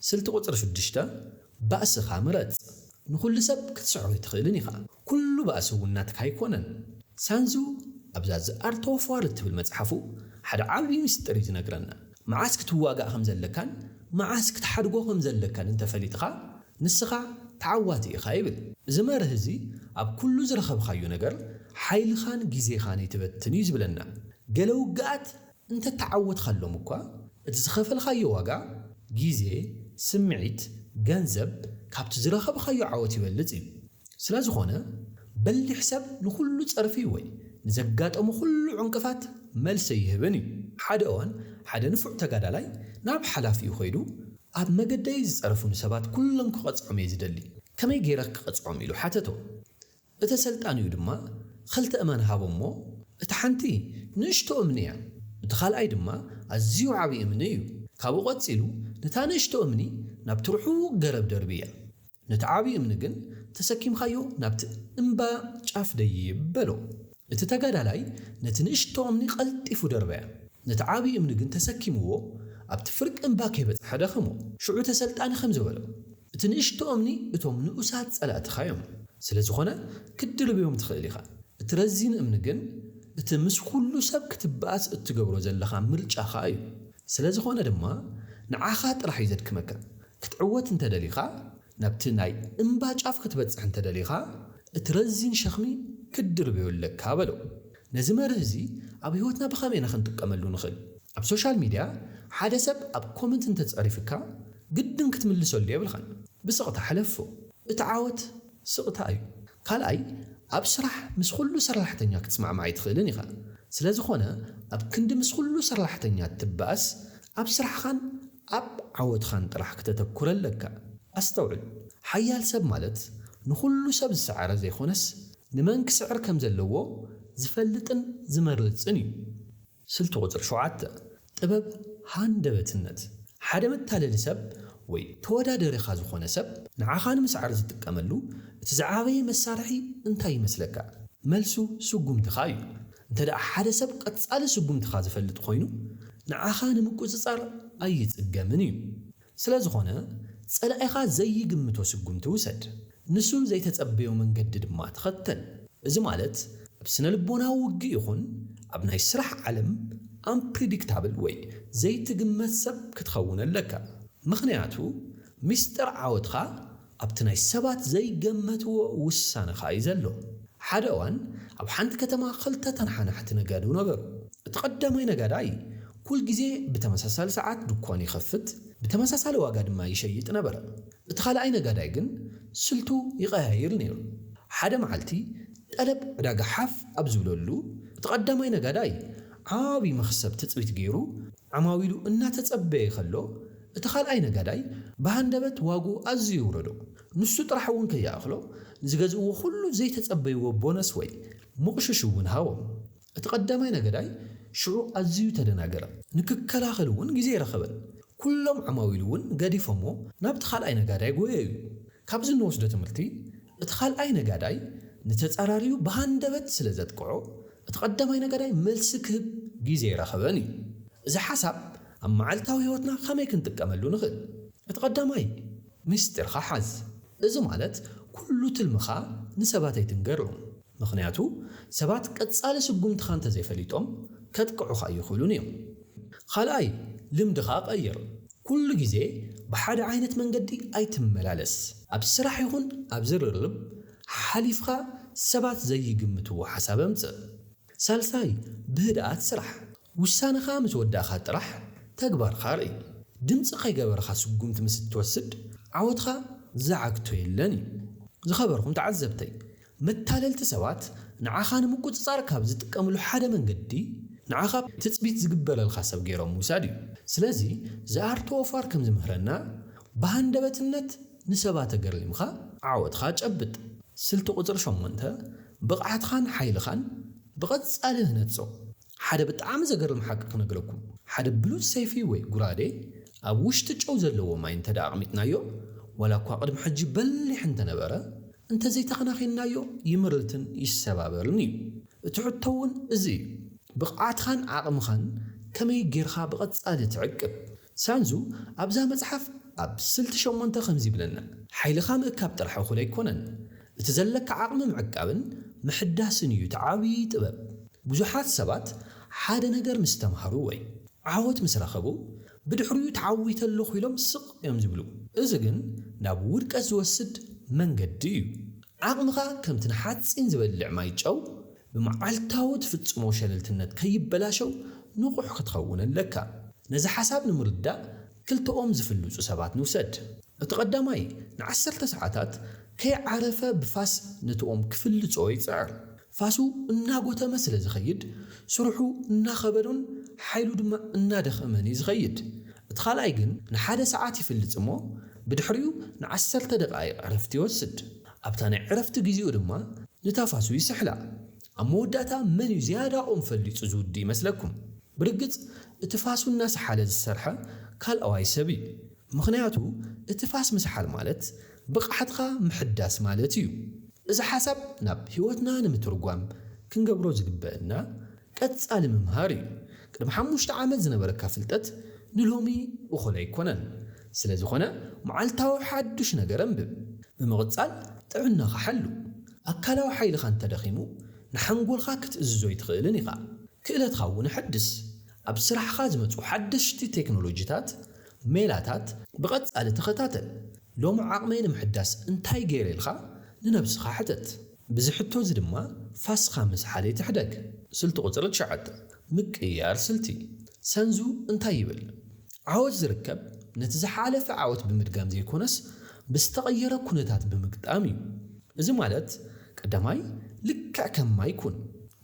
ስልቲ ቁጽሪ ሽዱሽተ ባእስኻ ምረጽ ንኹሉ ሰብ ክትስዕሮ ኣይትኽእልን ኢኻ ኩሉ ባእሲ እውን ናትካ ኣይኮነን። ሳንዙ ኣብዛ The Art of War እትብል መጽሓፉ ሓደ ዓቢ ምስጢር እዩ ዝነግረና። መዓስ ክትዋጋእ ከም ዘለካን መዓስ ክትሓድጎ ከም ዘለካን እንተ ፈሊጥካ፣ ንስኻ ተዓዋቲ ኢኻ ይብል። እዚ መርህ እዚ ኣብ ኩሉ ዝረኸብካዮ ነገር ሓይልኻን ግዜኻን ኣይትበትን እዩ ዝብለና። ገለ ውግኣት እንተተዓወት ኻሎም እኳ እቲ ዝኸፈልኻዮ ዋጋ፣ ግዜ፣ ስምዒት፣ ገንዘብ፣ ካብቲ ዝረኸብኻዮ ዓወት ይበልጽ እዩ። ስለዝኾነ በሊሕ ሰብ ንኹሉ ጸርፊ ወይ ንዘጋጠሞ ኹሉ ዕንቅፋት መልሲ ኣይህብን እዩ። ሓደ እዋን ሓደ ንፉዕ ተጋዳላይ ናብ ሓላፊኡ ኸይዱ ኣብ መገደይ ዝጸረፉኒ ሰባት ኩሎም ክቐጽዖም እየ ዝደሊ፣ ከመይ ገይረ ክቐጽዖም ኢሉ ሓተቶ። እተሰልጣኒኡ ድማ ኽልተ እማን ሃቦ እሞ፣ እታ ሓንቲ ንእሽቶ እምኒ እያ፣ እቲ ኻልኣይ ድማ ኣዝዩ ዓብዪ እምኒ እዩ። ካብኡ ቐጺሉ ነታ ንእሽቶ እምኒ ናብቲ ርሑቕ ገረብ ደርብያ፣ ነቲ ዓብዪ እምኒ ግን ተሰኪምካዮ ናብቲ እምባ ጫፍ ደይብ በሎ። እቲ ተጋዳላይ ነቲ ንእሽቶ እምኒ ቐልጢፉ ደርበያ፣ ነቲ ዓብዪ እምኒ ግን ተሰኪምዎ ኣብቲ ፍርቂ እምባ ከይበጽሐ ደኸሞ። ሽዑ ተሰልጣኒ ኸምዚ በሎ፣ እቲ ንእሽቶ እምኒ እቶም ንኡሳት ጸላእትኻ እዮም፣ ስለ ዝዀነ ክትድርብዮም ትኽእል ኢኻ። እቲ ረዚን እምኒ ግን እቲ ምስ ኵሉ ሰብ ክትበኣስ እትገብሮ ዘለኻ ምርጫኻ እዩ። ስለ ዝዀነ ድማ ንዓኻ ጥራሕ እዩ ዘድክመካ። ክትዕወት እንተ ደሊኻ፣ ናብቲ ናይ እምባ ጫፍ ክትበጽሕ እንተ ደሊኻ፣ እቲ ረዚን ሸኽሚ ክትድርብዮ ኣለካ በሎ። ነዚ መርህ እዚ ኣብ ህይወትና ብኸመይ ኢና ክንጥቀመሉ ንኽእል? ኣብ ሶሻል ሚድያ ሓደ ሰብ ኣብ ኮመንት እንተ ጸሪፍካ ግድን ክትምልሰሉ የብልካን። ብስቕታ ሕለፎ። እቲ ዓወት ስቕታ እዩ። ካልኣይ ኣብ ስራሕ ምስ ኹሉ ሰርላሕተኛ ክትስማዕማዕ ኣይትኽእልን ኢኻ። ስለዝኾነ ኣብ ክንዲ ምስ ኹሉ ሰርላሕተኛ እትባኣስ ኣብ ስራሕኻን ኣብ ዓወትኻን ጥራሕ ክተተኩረ ኣለካ። ኣስተውዕል ሓያል ሰብ ማለት ንኹሉ ሰብ ዝሰዓረ ዘይኾነስ ንመን ክስዕር ከም ዘለዎ ዝፈልጥን ዝመርጽን እዩ። ስልቲ ቁጽሪ ሸውዓተ፣ ጥበብ ሃንደበትነት፣ ሓደ መታለሊ ሰብ ወይ ተወዳደሪኻ ዝኾነ ሰብ ንዓኻ ንምስዓር ዝጥቀመሉ እቲ ዝዓበየ መሳርሒ እንታይ ይመስለካ? መልሱ ስጉምትኻ እዩ። እንተድኣ ሓደ ሰብ ቀጻሊ ስጉምትኻ ዝፈልጥ ኮይኑ ንዓኻ ንምቁጽጻር ኣይጽገምን እዩ። ስለዝኾነ ጸላኢኻ ዘይግምቶ ስጉምቲ ውሰድ፣ ንሱ ዘይተጸበዮ መንገዲ ድማ ተኸተል። እዚ ማለት ኣብ ስነልቦናዊ ውግእ ይኹን ኣብ ናይ ስራሕ ዓለም ኣምፕሪዲክታብል ወይ ዘይትግመት ሰብ ክትኸውን ኣለካ። ምኽንያቱ ሚስጥር ዓወትኻ ኣብቲ ናይ ሰባት ዘይገመትዎ ውሳነ ከኣ እዩ ዘሎ። ሓደ እዋን ኣብ ሓንቲ ከተማ ክልተ ተነሓናሕቲ ነጋዶ ነበሩ። እቲ ቀዳማይ ነጋዳይ ኩል ግዜ ብተመሳሳሊ ሰዓት ድኳኑ ይኸፍት፣ ብተመሳሳሊ ዋጋ ድማ ይሸይጥ ነበረ። እቲ ካልኣይ ነጋዳይ ግን ስልቱ ይቐያይር ነይሩ። ሓደ መዓልቲ ጠለብ ዕዳጋ ሓፍ ኣብ ዝብለሉ፣ እቲ ቀዳማይ ነጋዳይ ዓቢ መኽሰብ ትጽቢት ገይሩ፣ ዓማዊሉ እናተጸበየ ከሎ፣ እቲ ካልኣይ ነጋዳይ ብሃንደበት ዋግኡ ኣዝዩ የውረዶ። ንሱ ጥራሕ እውን ከይኣኽሎ፣ ንዝገዝእዎ ዅሉ ዘይተጸበይዎ ቦነስ ወይ ምቕሹሽ እውን ሃቦም። እቲ ቀዳማይ ነጋዳይ ሽዑ ኣዝዩ ተደናገረ፣ ንክከላኸል እውን ግዜ ኣይረኸበን። ኵሎም ዓማዊሉ እውን ገዲፎምዎ ናብቲ ካልኣይ ነጋዳይ ጐየዩ። ካብዚ እንወስዶ ትምህርቲ፣ እቲ ካልኣይ ነጋዳይ ንተጻራሪኡ ብሃንደበት ስለ ዘጥቅዖ፣ እቲ ቀዳማይ ነጋዳይ መልሲ ክህብ ግዜ ኣይረኸበን እዩ። እዚ ሓሳብ ኣብ መዓልታዊ ህይወትና ከመይ ክንጥቀመሉ ንኽእል? እቲ ቀዳማይ፣ ምስጢርካ ሓዝ። እዚ ማለት ኩሉ ትልምኻ ንሰባት ኣይትንገሮም። ምኽንያቱ ሰባት ቀጻሊ ስጉምትኻ እንተዘይፈሊጦም ከጥቅዑኻ ኣይኽእሉን እዮም። ኻልኣይ ልምድኻ ቀይር። ኩሉ ግዜ ብሓደ ዓይነት መንገዲ ኣይትመላለስ። ኣብ ስራሕ ይኹን ኣብ ዝርርብ ሓሓሊፍኻ ሰባት ዘይግምትዎ ሓሳብ ኣምጽእ። ሳልሳይ ብህድኣት ስራሕ። ውሳነኻ ምስ ወዳእካ ጥራሕ ተግባርካ ርእይ። ድምጺ ከይገበርኻ ስጉምቲ ምስ እትወስድ ዓወትኻ ዝዓግቶ የለን እዩ። ዝኸበርኩም ተዓዘብተይ፣ መታለልቲ ሰባት ንዓኻ ንምቁጽጻር ካብ ዝጥቀምሉ ሓደ መንገዲ፣ ንዓኻ ትጽቢት ዝግበረልካ ሰብ ገይሮም ምውሳድ እዩ። ስለዚ ዝኣርትዎ ፋር ከም ዝምህረና፣ ብሃንደበትነት ንሰባት ተገሪምካ ዓወትካ ጨብጥ። ስልቲ ቁጽሪ ሸሞንተ፣ ብቕዓትኻን ሓይልኻን ብቐጻሊ ህነጾ። ሓደ ብጣዕሚ ዘገርም ሓቂ ክነግረኩም ሓደ ብሉጽ ሰይፊ ወይ ጉራዴ ኣብ ውሽጢ ጨው ዘለዎ ማይ እንተ ኣቕሚጥናዮ ዋላ እኳ ቅድሚ ሕጂ በሊሕ እንተ ነበረ እንተዘይ ተኸናኺንናዮ ይምርትን ይሰባበርን እዩ እቲ ሕቶ ውን እዚ እዩ ብቕዓትኻን ዓቕምኻን ከመይ ጌርኻ ብቐጻሊ ትዕቅብ ሳንዙ ኣብዛ መጽሓፍ ኣብ ስልቲ ሸሞንተ ከምዚ ይብለና። ሓይልኻ ምእካብ ጥራሕ እኹል ኣይኮነን፣ እቲ ዘለካ ዓቕሚ ምዕቃብን ምሕዳስን እዩ እቲ ዓብዪ ጥበብ። ብዙሓት ሰባት ሓደ ነገር ምስ ተማህሩ ወይ ዓወት ምስ ረኸቡ ብድሕሪኡ ተዓዊተ ኣለኹ ኢሎም ስቕ እዮም ዝብሉ። እዚ ግን ናብ ውድቀት ዝወስድ መንገዲ እዩ። ዓቕምኻ ከምቲ ንሓጺን ዝበልዕ ማይ ጨው ብመዓልታዊ ትፍጽሞ ሸለልትነት ከይበላሸው ንቑሕ ክትኸውን ኣለካ። ነዚ ሓሳብ ንምርዳእ ክልተኦም ዝፍልጹ ሰባት ንውሰድ። እቲ ቀዳማይ ንዓሰርተ ሰዓታት ከይዓረፈ ብፋስ ነቲኦም ክፍልጾ ይጽዕር። ፋሱ እናጎተመ ስለ ዝኸይድ ስርሑ እናኸበዶን ሓይሉ ድማ እናደኸመን እዩ ዝኸይድ። እቲ ካልኣይ ግን ንሓደ ሰዓት ይፍልጽ እሞ ብድሕሪኡ ንዓሰርተ ደቓይቕ ዕረፍቲ ይወስድ። ኣብታ ናይ ዕረፍቲ ግዜኡ ድማ ንታፋሱ ይስሕላ። ኣብ መወዳእታ መን እዩ ዝያዳኦም ፈሊጹ ዝውድእ ይመስለኩም? ብርግጽ እቲ ፋሱ እናሰሓለ ዝሰርሐ ካልኣዋይ ሰብ እዩ። ምኽንያቱ እቲ ፋስ ምስሓል ማለት ብቕዓትኻ ምሕዳስ ማለት እዩ። እዚ ሓሳብ ናብ ህይወትና ንምትርጓም ክንገብሮ ዝግበእና፣ ቀጻሊ ምምሃር እዩ። ቅድሚ ሓሙሽተ ዓመት ዝነበረካ ፍልጠት ንሎሚ እኹል ኣይኮነን። ስለ ዝኾነ መዓልታዊ ሓዱሽ ነገር ኣንብብ። ብምቕጻል ጥዕናኻ ሓሉ። ኣካላዊ ሓይልኻ እንተ ደኺሙ ንሓንጎልካ ክትእዝዞ ኣይትኽእልን ኢኻ። ክእለትካ እውን ኣሐድስ። ኣብ ስራሕኻ ዝመጹ ሓደሽቲ ቴክኖሎጂታት፣ ሜላታት፣ ብቐጻሊ ተኸታተል። ሎሚ ዓቕመይ ንምሕዳስ እንታይ ገይረ ኢልካ ንነብስኻ ሕተት። ብዚ ሕቶ እዚ ድማ ፋስካ ምስ ሓልየት ይሕደግ። ስልቲ ቁጽሪ ትሽዓተ፣ ምቅይያር ስልቲ፣ ሰንዙ እንታይ ይብል? ዓወት ዝርከብ ነቲ ዝሓለፈ ዓወት ብምድጋም ዘይኮነስ ብዝተቐየረ ኩነታት ብምግጣም እዩ። እዚ ማለት ቀዳማይ ልክዕ ከም ማይ ኩን።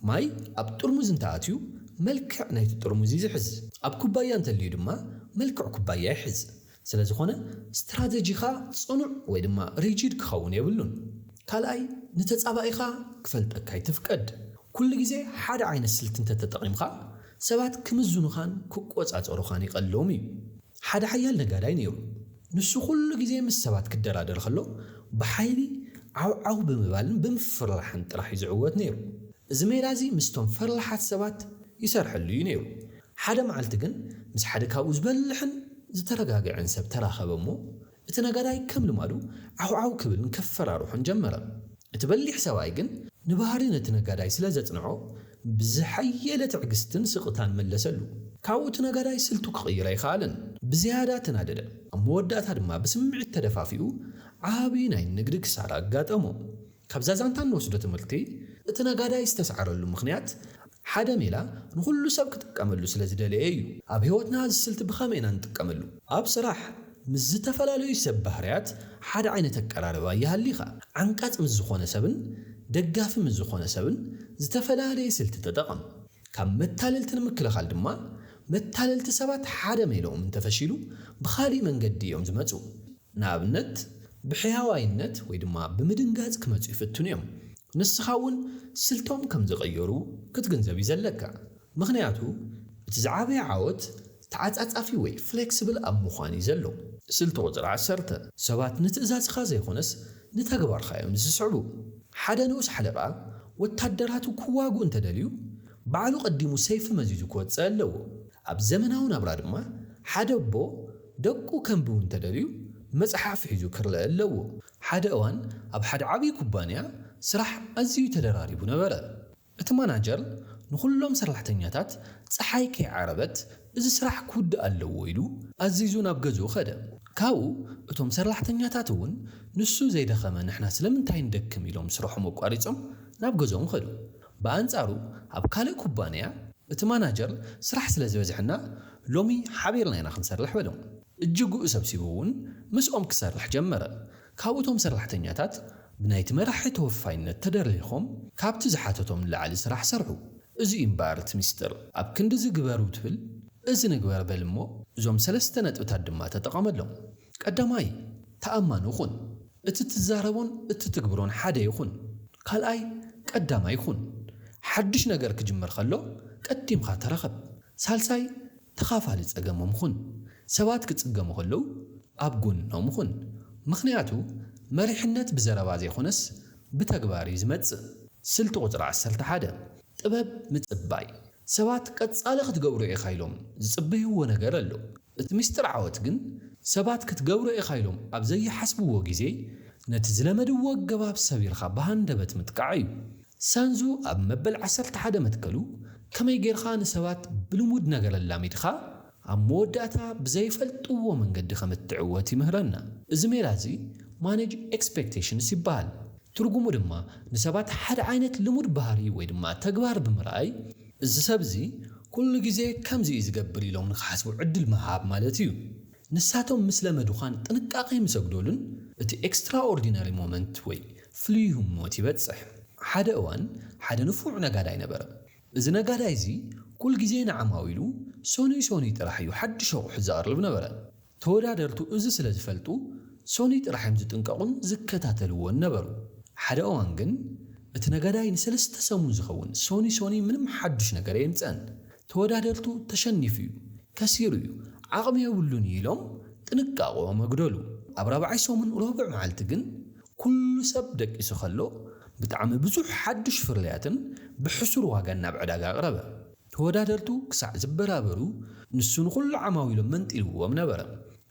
ማይ ኣብ ጥርሙዝ እንተኣትዩ መልክዕ ናይቲ ጥርሙዝ እዩ ዝሕዝ። ኣብ ኩባያ እንተልዩ ድማ መልክዕ ኩባያ ይሕዝ። ስለዝኾነ ስትራተጂኻ ጽኑዕ ወይ ድማ ሪጂድ ክኸውን የብሉን። ካልኣይ፣ ንተጻባኢኻ ክፈልጠካ ኣይትፍቀድ። ኩሉ ግዜ ሓደ ዓይነት ስልቲ እንተተጠቒምካ፣ ሰባት ክምዝኑኻን ክቆጻጸሩኻን ይቐልሎም እዩ። ሓደ ሓያል ነጋዳይ ነይሩ። ንሱ ኩሉ ግዜ ምስ ሰባት ክደራደር ከሎ፣ ብሓይሊ ዓው ዓው ብምባልን ብምፍርራሕን ጥራሕ እዩ ዝዕወት ነይሩ። እዚ ሜላ እዚ ምስቶም ፈርላሓት ሰባት ይሰርሐሉ እዩ ነይሩ። ሓደ መዓልቲ ግን ምስ ሓደ ካብኡ ዝበልሕን ዝተረጋግዐን ሰብ ተራኸበ እሞ፣ እቲ ነጋዳይ ከም ልማዱ ዓውዓው ክብልን ከፈራርሖን ጀመረ። እቲ በሊሕ ሰብኣይ ግን ንባህሪ ነቲ ነጋዳይ ስለ ዘጽንዖ፣ ብዝሓየለ ትዕግስትን ስቕታን መለሰሉ። ካብኡ እቲ ነጋዳይ ስልቱ ክቕይር ኣይኸኣለን። ብዝያዳ ተናደደ። ኣብ መወዳእታ ድማ ብስምዒት ተደፋፊኡ ዓቢ ናይ ንግዲ ክሳራ ኣጋጠሞ። ካብዛ ዛንታ እንወስዶ ትምህርቲ፣ እቲ ነጋዳይ ዝተሳዕረሉ ምኽንያት፣ ሓደ ሜላ ንኹሉ ሰብ ክጥቀመሉ ስለ ዝደለየ እዩ። ኣብ ህይወትና እዚ ስልቲ ብኸመይ ኢና እንጥቀመሉ? ኣብ ስራሕ፣ ምስ ዝተፈላለዩ ሰብ ባህርያት ሓደ ዓይነት ኣቀራርባ ይሃሊኻ። ዓንቃጽ ምስ ዝኾነ ሰብን ደጋፊ ምስ ዝኾነ ሰብን ዝተፈላለየ ስልቲ ተጠቐም። ካብ መታለልቲ ንምክልኻል ድማ፣ መታለልቲ ሰባት ሓደ ሜልኦም እንተፈሺሉ ብኻሊእ መንገዲ እዮም ዝመጹ። ንኣብነት፣ ብሕያዋይነት ወይ ድማ ብምድንጋጽ ክመጹ ይፍትኑ እዮም። ንስኻ እውን ስልቶም ከም ዝቐየሩ ክትግንዘብ እዩ ዘለካ። ምኽንያቱ፣ እቲ ዝዓበየ ዓወት ተዓጻጻፊ ወይ ፍለክስብል ኣብ ምዃን እዩ ዘሎ። ስልቲ ቁጽሪ ዓሰርተ፣ ሰባት ንትእዛዝካ ዘይኮነስ ንተግባርካ እዮም ዝስዕቡ። ሓደ ንኡስ ሓለቓ፣ ወታደራቱ ክዋግኡ እንተደልዩ፣ ባዕሉ ቀዲሙ ሰይፊ መዚዙ ክወጽእ ኣለዎ። ኣብ ዘመናዊ ናብራ ድማ፣ ሓደ ኣቦ ደቁ ከንብቡ እንተደልዩ መጽሓፍ ሒዙ ክረኣ ኣለዎ። ሓደ እዋን ኣብ ሓደ ዓብዪ ኩባንያ ስራሕ ኣዝዩ ተደራሪቡ ነበረ። እቲ ማናጀር ንዅሎም ሰራሕተኛታት ጸሓይ ከይዓረበት እዚ ስራሕ ክውዳእ ኣለዎ ኢሉ ኣዚዙ ናብ ገዝኡ ከደ። ካብኡ እቶም ሰራሕተኛታት እውን ንሱ ዘይደኸመ ንሕና ስለምንታይ ንደክም ኢሎም ስርሖም ኣቋሪጾም ናብ ገዝኦም ከዱ። ብኣንጻሩ ኣብ ካልእ ኩባንያ እቲ ማናጀር ስራሕ ስለ ዝበዝሐና ሎሚ ሓቢርና ኢና ክንሰርሕ በሎም። እጅግኡ ሰብሲቡ እውን ምስኦም ክሰርሕ ጀመረ። ካብኡ እቶም ሰራሕተኛታት ብናይቲ መራሒ ተወፋይነት ተደሪኾም ካብቲ ዝሓተቶም ንላዕሊ ስራሕ ሰርሑ። እዚ እዩ እምበኣር እቲ ምስጢር። ኣብ ክንድዚ ግበሩ ትብል እዚ ንግበር በል እሞ እዞም ሰለስተ ነጥብታት ድማ ተጠቐመሎም። ቀዳማይ፣ ተኣማኒ ኩን። እቲ ትዛረቦን እትትግብሮን ሓደ ይኹን ካልኣይ ቀዳማይ ኩን። ሓዱሽ ነገር ክጅመር ከሎ ቀዲምኻ ተረኸብ። ሳልሳይ ተኻፋሊ ጸገሞም ኹን። ሰባት ክጽገሙ ከለዉ ኣብ ጎኖም ኹን። ምኽንያቱ መሪሕነት ብዘረባ ዘይኮነስ ብተግባር እዩ ዝመጽእ። ስልቲ ቁጽሪ ዓሰርተ ሓደ፣ ጥበብ ምጽባይ፣ ሰባት ቀጻሊ ክትገብሮ ኢኻ ኢሎም ዝጽበይዎ ነገር ኣሎ። እቲ ምስጢር ዓወት ግን፣ ሰባት ክትገብሮ ኢኻ ኢሎም ኣብ ዘይሓስብዎ ግዜ፣ ነቲ ዝለመድዎ ኣገባብ ሰቢርካ ብሃንደበት ምጥቃዕ እዩ። ሳንዙ ኣብ መበል ዓሰርተ ሓደ መትከሉ፣ ከመይ ጌርካ ንሰባት ብልሙድ ነገር ኣላሚድካ፣ ኣብ መወዳእታ ብዘይፈልጥዎ መንገዲ ከም እትዕወት ይምህረና። እዚ ሜላ እዚ Manage Expectations ይበሃል። ትርጉሙ ድማ ንሰባት ሓደ ዓይነት ልሙድ ባህሪ ወይ ድማ ተግባር ብምርኣይ እዚ ሰብ እዚ ኩሉ ግዜ ከምዚ እዩ ዝገብር ኢሎም ንኽሓስቡ ዕድል ምሃብ ማለት እዩ። ንሳቶም ምስ ለመዱኻን ጥንቃቄ ምስ ኣጉደሉን እቲ Extraordinary Moment ወይ ፍሉይ ህሞት ይበጽሕ። ሓደ እዋን ሓደ ንፉዕ ነጋዳይ ነበረ። እዚ ነጋዳይ እዚ ኩል ግዜ ንዓማዊሉ ሰኑይ ሰኑይ ጥራሕ እዩ ሓድሽ ኣቑሑት ዘቕርብ ነበረ። ተወዳደርቱ እዚ ስለ ዝፈልጡ ሰኑይ ጥራሕ እዮም ዝጥንቀቑን ዝከታተልዎን ነበሩ። ሓደ እዋን ግን እቲ ነጋዳይ ንሰለስተ ሰሙን ዝኸውን ሰኑይ ሰኑይ ምንም ሓዱሽ ነገር ኣየምጽእን። ተወዳደርቱ ተሸኒፉ እዩ፣ ከሲሩ እዩ፣ ዓቕሚ የብሉን እዩ ኢሎም ጥንቃቐኦም ኣጉደሉ። ኣብ ራብዓይ ሰሙን ሮብዕ መዓልቲ ግን ኩሉ ሰብ ደቂሱ ከሎ፣ ብጣዕሚ ብዙሕ ሓዱሽ ፍርያትን ብሕሱር ዋጋን ናብ ዕዳጋ ኣቕረበ። ተወዳደርቱ ክሳዕ ዝበራበሩ፣ ንሱ ንኹሉ ዓማዊሎም መንጢልዎም ነበረ።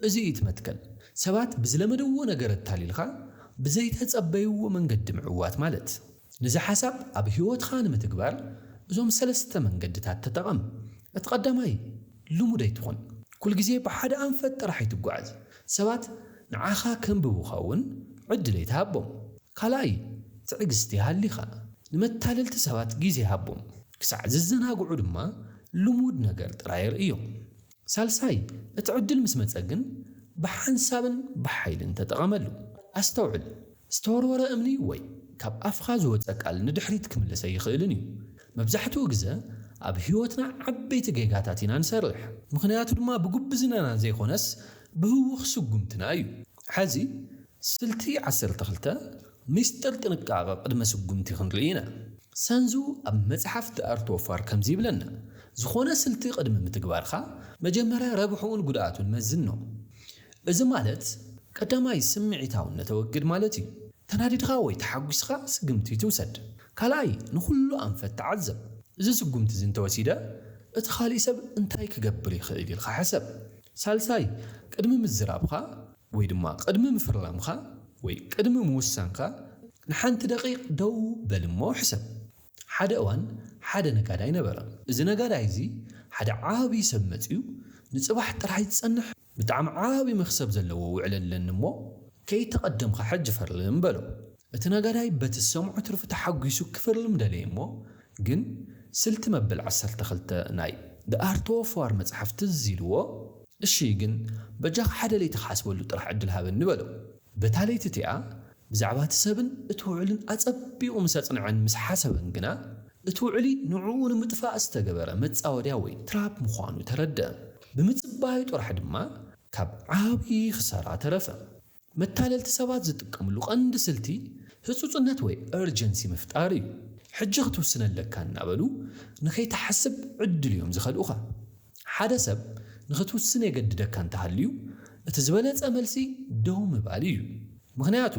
እዚ እዩ እቲ መትከል፣ ሰባት ብዝለመደዎ ነገር ኣታሊልካ ብዘይተጸበይዎ መንገዲ ምዕዋት ማለት። ነዚ ሓሳብ ኣብ ህይወትካ ንምትግባር እዞም ሰለስተ መንገድታት ተጠቐም። እቲ ቀዳማይ፣ ልሙድ ኣይትኹን። ኩል ግዜ ብሓደ ኣንፈት ጥራሕ ኣይትጓዓዝ። ሰባት ንዓኻ ከንብቡኻ እውን ዕድል ኣይትሃቦም። ካልኣይ፣ ትዕግስቲ ሃሊኻ። ንመታለልቲ ሰባት ግዜ ሃቦም። ክሳዕ ዝዘናግዑ ድማ ልሙድ ነገር ጥራይ ኣርእዮም። ሳልሳይ፣ እቲ ዕድል ምስ መጸ ግን ብሓንሳብን ብሓይልን ተጠቐመሉ። ኣስተውዕል፣ ዝተወርወረ እምኒ ወይ ካብ ኣፍካ ዝወጸ ቃል ንድሕሪት ክምልስ ኣይኽእልን እዩ። መብዛሕትኡ ግዘ ኣብ ህይወትና ዓበይቲ ጌጋታት ኢና ንሰርሕ። ምኽንያቱ ድማ ብጉብዝናና ዘይኮነስ ብህዉኽ ስጉምትና እዩ። ሐዚ ስልቲ ዓሰርተ ክልተ ምስጢር ጥንቃቐ ቅድመ ስጉምቲ ክንርኢ ኢና። ሰንዙ ኣብ መጽሓፍ The Art of War ከምዚ ይብለና፣ ዝኾነ ስልቲ ቅድሚ ምትግባርካ፣ መጀመርያ ረብሕኡን ጉድኣቱን መዝኖ። እዚ ማለት፣ ቀዳማይ ስምዒታውነት ኣወግድ ማለት እዩ። ተናዲድካ ወይ ተሓጒስኻ ስግምቲ ኣይትውሰድ። ካልኣይ፣ ንኹሉ ኣንፈት ተዓዘብ። እዚ ስጉምቲ እዚ እንተወሲደ፣ እቲ ካልእ ሰብ እንታይ ክገብር ይኽእል ኢልካ ሕሰብ። ሳልሳይ፣ ቅድሚ ምዝራብካ፣ ወይ ድማ ቕድሚ ምፍራምካ ወይ ቕድሚ ምውሳንካ ንሓንቲ ደቒቕ ደው በል እሞ ሕሰብ። ሓደ እዋን ሓደ ነጋዳይ ነበረ። እዚ ነጋዳይ እዚ ሓደ ዓቢ ሰብ መጺኡ ንጽባሕ ጥራሕ ይጸንሕ ብጣዕሚ ዓቢ መኽሰብ ዘለዎ ውዕል ኣለኒ እሞ ከይተቐደምካ ሕጂ ፈርም በሎ። እቲ ነጋዳይ በቲ ዝሰምዖ ትርፊ ተሓጒሱ ክፍርም ደለየ እሞ ግን ስልቲ መበል ዓሰርተ ክልተ ናይ The Art of War መጽሓፍ ትዝ ኢልዎ እሺ ግን በጃኻ ሓደ ለይቲ ክሓስበሉ ጥራሕ ዕድል ሃበኒ በሎ። በታ ለይቲ እቲኣ ብዛዕባ እቲ ሰብን እቲ ውዑልን ኣጸቢቑ ምስ ኣጽንዐን ምስ ሓሰበን ግና እቲ ውዑሊ ንዕኡ ንምጥፋእ ዝተገበረ መጻወድያ ወይ ትራፕ ምዃኑ ተረድኣ። ብምጽባዩ ጥራሕ ድማ ካብ ዓብዪ ክሳራ ተረፈ። መታለልቲ ሰባት ዝጥቀምሉ ቀንዲ ስልቲ ህጹጽነት ወይ Urgency ምፍጣር እዩ። ሕጂ ክትውስን ኣለካ እናበሉ ንኸይትሓስብ ዕድል እዮም ዝኸልኡኻ። ሓደ ሰብ ንኽትውስን የገድደካ እንተሃልዩ፣ እቲ ዝበለጸ መልሲ ደው ምባል እዩ። ምኽንያቱ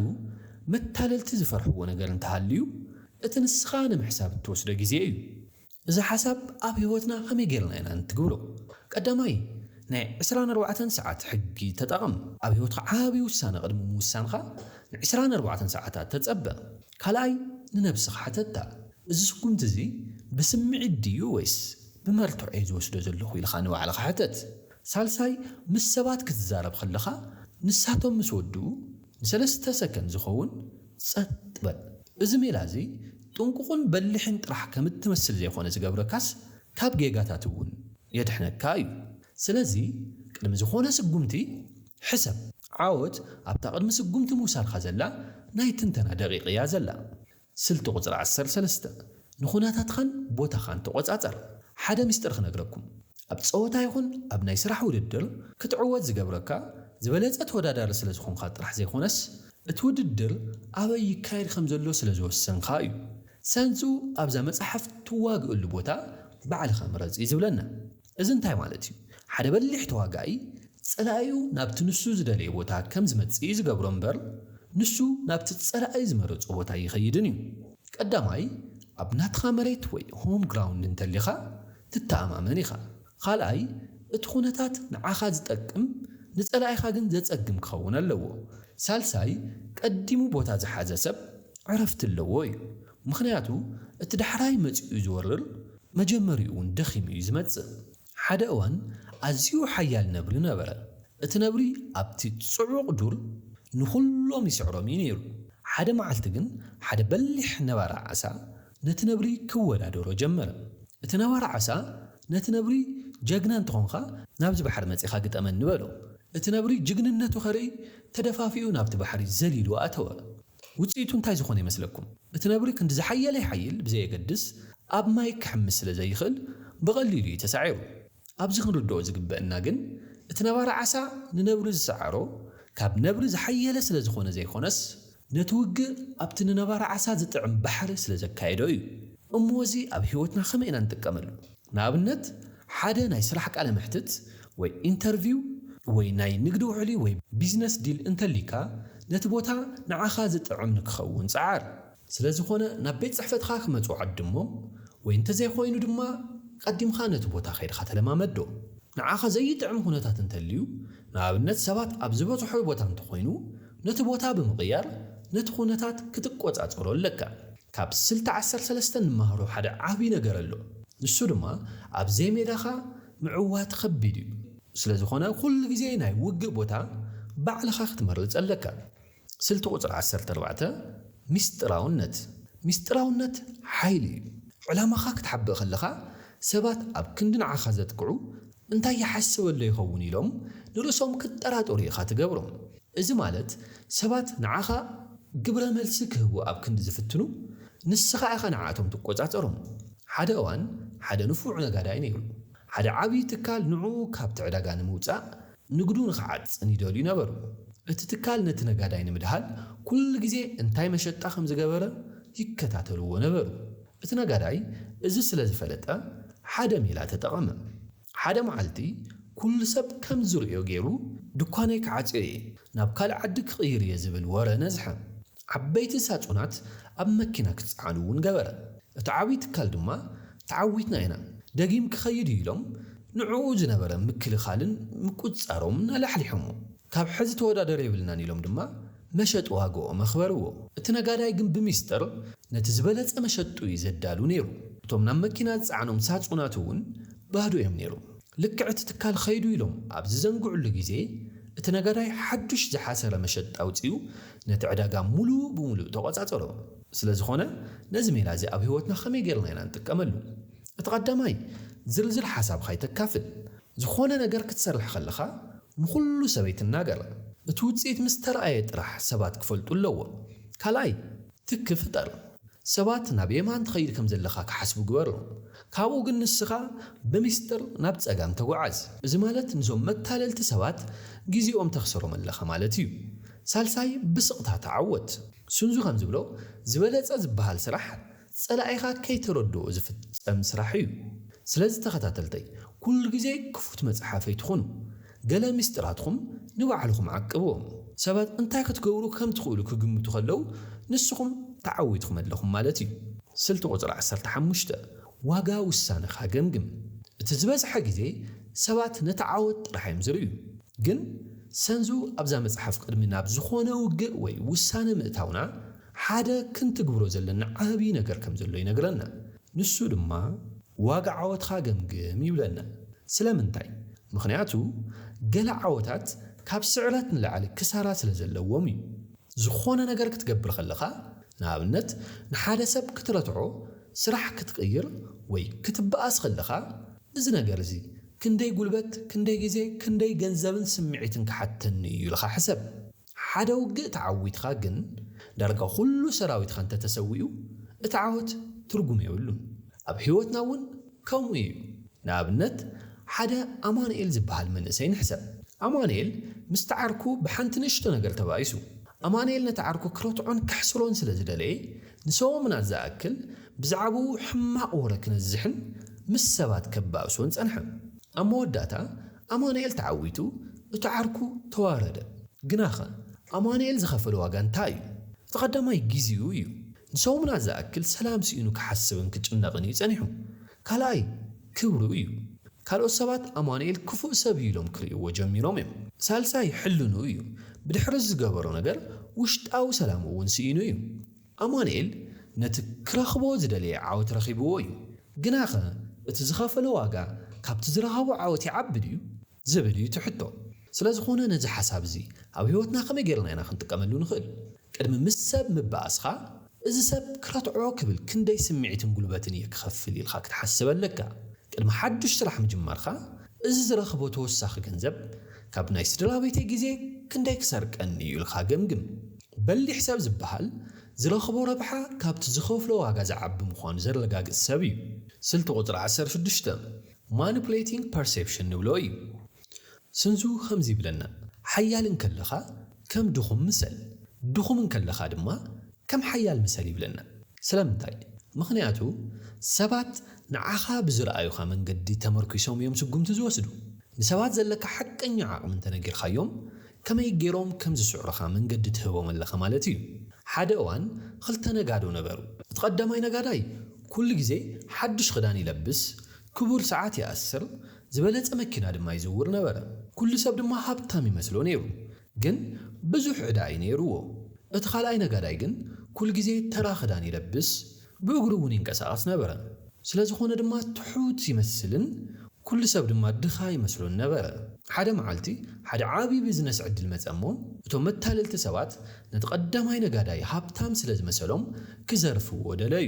መታለልቲ ዝፈርሕዎ ነገር እንተሃልዩ፣ እቲ ንስኻ ንምሕሳብ እትወስዶ ግዜ እዩ። እዚ ሓሳብ ኣብ ህይወትና ከመይ ጌርና ኢና ንትግብሮ? ቀዳማይ፣ ናይ ዕስራን ኣርባዕተን ሰዓት ሕጊ ተጠቐም። ኣብ ህይወትካ ዓቢ ውሳነ ቅድሚ ምውሳንካ ንዕስራን ኣርባዕተን ሰዓታት ተጸበ። ካልኣይ፣ ንነብስኻ ሕተታ፣ እዚ ስጉምቲ እዚ ብስምዒት ድዩ ወይስ ብመርትዖ እየ ዝወስዶ ዘለኹ? ኢልካ ንባዕልኻ ሕተት። ሳልሳይ፣ ምስ ሰባት ክትዛረብ ከለኻ ንሳቶም ምስ ወድኡ ንሰለስተ ሰከንድ ዝኸውን ጸጥ በል። እዚ ሜላ እዚ ጥንቁቕን በሊሕን ጥራሕ ከም እትመስል ዘይኮነ ዝገብረካስ ካብ ጌጋታት እውን የድሕነካ እዩ። ስለዚ ቅድሚ ዝኾነ ስጉምቲ ሕሰብ። ዓወት ኣብታ ቅድሚ ስጉምቲ ምውሳድካ ዘላ ናይ ትንተና ደቒቕ እያ ዘላ። ስልቲ ቁጽሪ ዓሰርተ ሰለስተ፣ ንኩነታትካን ቦታኻን ተቖጻጸር። ሓደ ምስጢር ክነግረኩም፣ ኣብ ጸወታ ይኹን ኣብ ናይ ስራሕ ውድድር ክትዕወት ዝገብረካ ዝበለጸ ተወዳዳሪ ስለ ዝኾንካ ጥራሕ ዘይኮነስ እቲ ውድድር ኣበይ ይካየድ ከም ዘሎ ስለ ዝወሰንካ እዩ። ሰንሱ ኣብዛ መጽሓፍ ትዋግእሉ ቦታ ባዕልኻ ምረጽ እዩ ዝብለና። እዚ እንታይ ማለት እዩ? ሓደ በሊሕ ተዋጋኢ ጸላኢኡ ናብቲ ንሱ ዝደለዮ ቦታ ከም ዝመጽእ እዩ ዝገብሮ እምበር ንሱ ናብቲ ጸላኢ ዝመረጾ ቦታ ኣይኸይድን እዩ። ቀዳማይ ኣብ ናትኻ መሬት ወይ ሆም ግራውንድ እንተሊኻ ትተኣማመን ኢኻ። ኻልኣይ፣ እቲ ዅነታት ንዓኻ ዚጠቅም፣ ንጸላኢኻ ግን ዜጸግም ኪኸውን ኣለዎ። ሳልሳይ፣ ቀዲሙ ቦታ ዝሓዘ ሰብ ዕረፍቲ ኣለዎ እዩ። ምኽንያቱ፣ እቲ ዳሕራይ መጺኡ ዚወርር፣ መጀመሪኡ እውን ደኺሙ እዩ ዚመጽእ። ሓደ እዋን፣ ኣዝዩ ሓያል ነብሪ ነበረ። እቲ ነብሪ ኣብቲ ጽዑቕ ዱር ንዅሎም ይስዕሮም እዩ ነይሩ። ሓደ መዓልቲ ግን፣ ሓደ በሊሕ ነባሪ ዓሳ፣ ነቲ ነብሪ ክወዳደሮ ጀመረ። እቲ ነባሪ ዓሳ ነቲ ነብሪ ጀግና እንተኾንካ ናብዚ ባሕሪ መጺኻ ግጠመኒ በሎ። እቲ ነብሪ ጅግንነቱ ከርኢ ተደፋፊኡ ናብቲ ባሕሪ ዘሊሉ ኣተወ። ውጽኢቱ እንታይ ዝኾነ ይመስለኩም? እቲ ነብሪ ክንዲ ዝሓየለ ይሓይል ብዘየገድስ ኣብ ማይ ክሕምስ ስለ ዘይኽእል ብቐሊሉ እዩ ተሳዒሩ። ኣብዚ ክንርድኦ ዝግበእና ግን እቲ ነባሪ ዓሳ ንነብሪ ዝሰዓሮ ካብ ነብሪ ዝሓየለ ስለ ዝኾነ ዘይኮነስ ነቲ ውግእ ኣብቲ ንነባሪ ዓሳ ዝጥዕም ባሕሪ ስለ ዘካየዶ እዩ። እሞ እዚ ኣብ ህይወትና ከመይ ኢና ንጥቀመሉ? ንኣብነት፣ ሓደ ናይ ስራሕ ቃለ መሕትት ወይ ኢንተርቪው ወይ ናይ ንግዲ ውዕሊ ወይ ቢዝነስ ዲል እንተልዩካ፣ ነቲ ቦታ ንዓኻ ዝጥዕም ንክኸውን ጸዓር። ስለ ዝኾነ ናብ ቤት ጽሕፈትኻ ክመጹ ዓድሞም፣ ወይ እንተዘይኮይኑ ድማ ቀዲምካ ነቲ ቦታ ከይድካ ተለማመዶ። ንዓኻ ዘይጥዕም ኩነታት እንተልዩ፣ ንኣብነት ሰባት ኣብ ዝበዝሖ ቦታ እንተኾይኑ ነቲ ቦታ ብምቕያር ነቲ ኩነታት ክትቆጻጸሮ ኣለካ። ካብ ስልቲ ዓሰርተ ሰለስተ ንመሃሮ ሓደ ዓቢ ነገር ኣሎ። ንሱ ድማ ኣብ ዘይሜዳኻ ምዕዋት ከቢድ እዩ። ስለዝኾነ ኩሉ ግዜ ናይ ውግእ ቦታ ባዕልኻ ክትመርጽ ኣለካ። ስልቲ ቁጽሪ ዓሰርተ ኣርባዕተ፣ ሚስጥራውነት። ሚስጥራውነት ሓይሊ እዩ። ዕላማኻ ክትሓብእ ከለኻ ሰባት ኣብ ክንዲ ንዓኻ ዘጥቅዑ እንታይ ይሓስበሎ ይኸውን ኢሎም ንርእሶም ክጠራጠሩ ኢኻ ትገብሮም። እዚ ማለት ሰባት ንዓኻ ግብረ መልሲ ክህቡ ኣብ ክንዲ ዝፍትኑ፣ ንስኻ ኢኻ ንዓኣቶም ትቆጻጸሮም። ሓደ እዋን ሓደ ንፉዕ ነጋዳይ ነይሩ። ሓደ ዓብዪ ትካል ንዕኡ ካብቲ ዕዳጋ ንምውጻእ፣ ንግዱ ንኽዓጽን ይደልዩ ነበሩ። እቲ ትካል ነቲ ነጋዳይ ንምድሃል ኩሉ ግዜ እንታይ መሸጣ ከም ዝገበረ ይከታተልዎ ነበሩ። እቲ ነጋዳይ እዚ ስለ ዝፈለጠ ሓደ ሜላ ተጠቐመ። ሓደ መዓልቲ ኩሉ ሰብ ከም ዝርእዮ ገይሩ ድኳነይ ክዓጽዮ እየ፣ ናብ ካልእ ዓዲ ክቕይር እየ ዝብል ወረ ነዝሐ። ዓበይቲ ሳጹናት ኣብ መኪና ክጸዓኑ እውን ገበረ። እቲ ዓብዪ ትካል ድማ ተዓዊትና ኢና፣ ደጊም ክኸይድ እዩ ኢሎም ንዕኡ ዝነበረ ምክልኻልን ምቁጽጻሮምን ኣላሕሊሖሞ። ካብ ሕዚ ተወዳደሪ የብልናን ኢሎም ድማ መሸጢ ዋግኦም ኣኽበርዎ። እቲ ነጋዳይ ግን ብሚስጥር ነቲ ዝበለጸ መሸጡ እዩ ዘዳሉ ነይሩ። እቶም ናብ መኪና ዝጸዓኖም ሳጹናት እውን ባዶ እዮም ነይሮም። ልክዕ እቲ ትካል ኸይዱ ኢሎም ኣብ ዝዘንግዕሉ ግዜ፣ እቲ ነጋዳይ ሓዱሽ ዝሓሰረ መሸጢ ኣውጺኡ ነቲ ዕዳጋ ምሉእ ብምሉእ ተቖጻጸሮ። ስለዝኾነ ነዚ ሜላ እዚ ኣብ ህይወትና ከመይ ጌርና ኢና እንጥቀመሉ? እቲ ቀዳማይ፣ ዝርዝር ሓሳብካ ኣይተካፍል። ዝኾነ ነገር ክትሰርሕ ከለኻ ንኹሉ ሰብ ኣይትናገር። እቲ ውጽኢት ምስ ተራእየ ጥራሕ ሰባት ክፈልጡ ኣለዎም። ካልኣይ፣ ትኪ ፍጠር። ሰባት ናብ የማን ትኸይድ ከም ዘለኻ ክሓስቡ ግበሮም። ካብኡ ግን ንስኻ ብሚስጥር ናብ ጸጋም ተጓዓዝ። እዚ ማለት ንዞም መታለልቲ ሰባት ግዜኦም ተኽስሮም ኣለኻ ማለት እዩ። ሳልሳይ፣ ብስቕታ ተዓወት። ሱንዙ ከም ዝብሎ፣ ዝበለጸ ዝበሃል ስራሕ ጸላኢኻ ከይተረድኦ ዝፍጸም ስራሕ እዩ። ስለዚ ተኸታተልተይ ኩሉ ግዜ ክፉት መጽሓፍ ኣይትኹኑ። ገለ ምስጢራትኹም ንባዕልኹም ዓቅብዎም። ሰባት እንታይ ክትገብሩ ከም ትኽእሉ ክግምቱ ከለዉ ንስኹም ተዓዊትኩም ኣለኹም ማለት እዩ። ስልቲ ቁጽሪ ዓሰርተ ሓሙሽተ፣ ዋጋ ውሳነኻ ገምግም። እቲ ዝበዝሐ ግዜ ሰባት ነቲ ዓወት ጥራሕ እዮም ዝርእዩ። ግን ሰንዙ ኣብዛ መጽሓፍ ቅድሚ ናብ ዝኾነ ውግእ ወይ ውሳነ ምእታውና ሓደ ክንትግብሮ ዘለና ዓብዪ ነገር ከም ዘሎ ይነግረና። ንሱ ድማ ዋጋ ዓወትኻ ገምግም ይብለና። ስለምንታይ? ምኽንያቱ ገለ ዓወታት ካብ ስዕረት ንላዕሊ ክሳራ ስለ ዘለዎም እዩ። ዝኾነ ነገር ክትገብር ከለኻ፣ ንኣብነት ንሓደ ሰብ ክትረትዖ፣ ስራሕ ክትቕይር ወይ ክትበኣስ ከለኻ፣ እዚ ነገር እዚ ክንደይ ጉልበት፣ ክንደይ ግዜ፣ ክንደይ ገንዘብን ስምዒትን ክሓተኒ እዩ ኢልካ ሕሰብ። ሓደ ውግእ ተዓዊትኻ ግን ዳርጋ ኩሉ ሰራዊትኻ እንተተሰዊኡ እቲ ዓወት ትርጉም የብሉን። ኣብ ህይወትና እውን ከምኡ እዩ። ንኣብነት ሓደ ኣማኑኤል ዝበሃል መንእሰይ ንሕሰብ። ኣማኑኤል ምስቲ ዓርኩ ብሓንቲ ንእሽቶ ነገር ተባኢሱ። ኣማኑኤል ነቲ ዓርኩ ክረትዖን ከሕስሮን ስለ ዝደለየ ንሰሙናት ዝኣክል ብዛዕብኡ ሕማቕ ወረ ክነዝሕን ምስ ሰባት ከባእሶን ጸንሐ። ኣብ መወዳእታ ኣማኑኤል ተዓዊቱ እቲ ዓርኩ ተዋረደ። ግናኸ ኣማኑኤል ዝኸፈሎ ዋጋ እንታይ እዩ? እቲ ቀዳማይ ጊዚኡ እዩ። ንሰሙናት ዝኣክል ሰላም ስኢኑ ክሓስብን ክጭነቕን እዩ ጸኒሑ። ካልኣይ ክብሩ እዩ። ካልኦት ሰባት ኣማኑኤል ክፉእ ሰብ እዩ ኢሎም ክርእይዎ ጀሚሮም እዮም። ሳልሳይ ሕልንኡ እዩ። ብድሕሪ ዝገበሮ ነገር ውሽጣዊ ሰላሙ እውን ስኢኑ እዩ። ኣማኑኤል ነቲ ክረኽቦ ዝደለየ ዓወት ረኺብዎ እዩ፣ ግናኸ እቲ ዝኸፈሎ ዋጋ ካብቲ ዝረኸቦ ዓወት ይዓቢ ድዩ? ዝብል እዩ እቲ ሕቶ። ስለዝኾነ ነዚ ሓሳብ እዚ ኣብ ህይወትና ከመይ ገይርና ኢና ክንጥቀመሉ ንኽእል? ቅድሚ ምስ ሰብ ምባኣስካ እዚ ሰብ ክረትዖ ክብል ክንደይ ስምዒትን ጉልበትን እየ ክኸፍል ኢልካ ክትሓስብ ኣለካ። ቅድሚ ሓዱሽ ስራሕ ምጅማርካ እዚ ዝረኽቦ ተወሳኺ ገንዘብ ካብ ናይ ስድራቤተይ ግዜ ክንደይ ክሰርቀኒ እዩ ኢልካ ገምግም። በሊሕ ሰብ ዝበሃል ዝረኽቦ ረብሓ ካብቲ ዝኸፍሎ ዋጋ ዝዓቢ ምዃኑ ዘረጋግጽ ሰብ እዩ። ስልቲ ቁጽሪ ዓሰርተ ሽዱሽተ፣ Manipulating Perception፣ ንብሎ እዩ። ስንዙ ከምዚ ይብለና፣ ሓያል እንከለኻ ከም ድኹም ምሰል፣ ድኹም እንከለኻ ድማ ከም ሓያል ምሰል ይብለና። ስለምንታይ? ምኽንያቱ ሰባት ንዓኻ ብዝረኣዩኻ መንገዲ ተመርኲሶም እዮም ስጉምቲ ዝወስዱ። ንሰባት ዘለካ ሓቀኛ ዓቕሚ እንተነጊርካዮም ከመይ ገይሮም ከም ዝስዕሩኻ መንገዲ ትህቦም ኣለኻ ማለት እዩ። ሓደ እዋን ኽልተ ነጋዶ ነበሩ። እቲ ቐዳማይ ነጋዳይ ኵሉ ግዜ ሓድሽ ኽዳን ይለብስ፣ ክቡር ሰዓት ይኣስር፣ ዝበለጸ መኪና ድማ ይዝውር ነበረ። ኵሉ ሰብ ድማ ሃብታም ይመስሎ ነይሩ፣ ግን ብዙሕ ዕዳ እዩ ነይርዎ። እቲ ኻልኣይ ነጋዳይ ግን ኵሉ ግዜ ተራ ኽዳን ይለብስ፣ ብእግሩ እውን ይንቀሳቐስ ነበረ፣ ስለ ዝዀነ ድማ ትሑት ይመስልን ኵሉ ሰብ ድማ ድኻ ይመስሎን ነበረ። ሓደ መዓልቲ፣ ሓደ ዓብዪ ቢዝነስ ዕድል መጸ እሞ፣ እቶም መታለልቲ ሰባት ነቲ ቐዳማይ ነጋዳይ ሃብታም ስለ ዝመሰሎም ኪዘርፍዎ ደለዩ።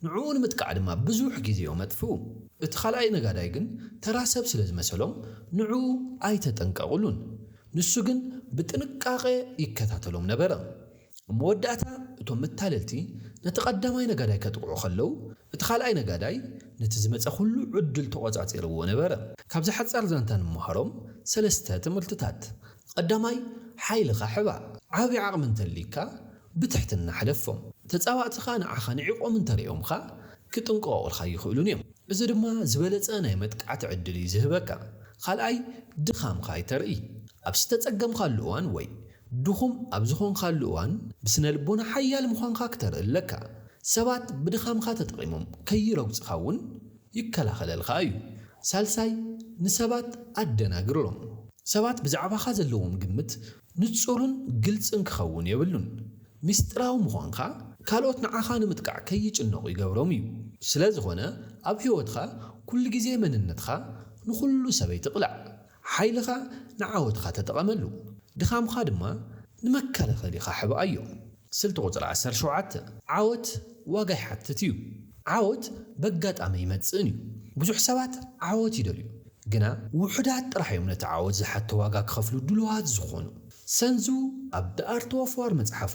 ንዕኡ ንምጥቃዕ ድማ ብዙሕ ግዜኦም ኣጥፍኡ። እቲ ኻልኣይ ነጋዳይ ግን ተራ ሰብ ስለ ዝመሰሎም ንዕኡ ኣይተጠንቀቑሉን። ንሱ ግን ብጥንቃቐ ይከታተሎም ነበረ። ኣብ መወዳእታ እቶም መታለልቲ ነቲ ቀዳማይ ነጋዳይ ከጥቕዑ ከለው፣ እቲ ካልኣይ ነጋዳይ ነቲ ዝመጸ ኩሉ ዕድል ተቖጻጺርዎ ነበረ። ካብዚ ሓጻር ዛንታ ንመሃሮም ሰለስተ ትምህርትታት። ቐዳማይ፣ ሓይልኻ ሕባእ። ዓቢ ዓቕሚ እንተልዩካ ብትሕትና ሕለፎም። ተጻባእትኻ ንዓኻ ንዒቖም እንተሪኦምኻ ክጥንቀቑልካ ኣይኽእሉን እዮም። እዚ ድማ ዝበለጸ ናይ መጥቃዕቲ ዕድል እዩ ዝህበካ። ካልኣይ፣ ድኻምካ ኣይተርኢ። ኣብ ዝተጸገምካሉ እዋን ወይ ድኹም ኣብ ዝኾንካሉ እዋን ብስነልቦና ሓያል ምዃንካ ክተርኢ ኣለካ። ሰባት ብድኻምካ ተጠቒሞም ከይረግጹኻ እውን ይከላኸለልኻ እዩ። ሳልሳይ፣ ንሰባት ኣደናግሮም። ሰባት ብዛዕባኻ ዘለዎም ግምት ንጹርን ግልጽን ክኸውን የብሉን። ምስጢራዊ ምዃንካ ካልኦት ንዓኻ ንምጥቃዕ ከይጭነቑ ይገብሮም እዩ። ስለዝኾነ ኣብ ህይወትካ ኩሉ ግዜ መንነትካ ንኹሉ ሰብ ኣይትቕላዕ። ሓይልኻ ንዓወትኻ ተጠቐመሉ፣ ድኻምኻ ድማ ንመከላኸሊኻ ሕብኣዮ። ስልቲ ቁጽሪ ዓሰርተ ሸውዓተ፣ ዓወት ዋጋ ይሓትት እዩ። ዓወት በጋጣሚ ኣይመጽእን እዩ። ብዙሕ ሰባት ዓወት ይደልዩ፣ ግና ውሑዳት ጥራሕ እዮም ነቲ ዓወት ዝሓቶ ዋጋ ክኸፍሉ ድሉዋት ዝኾኑ። ሰንዙ ኣብ The Art of War መጽሓፉ፣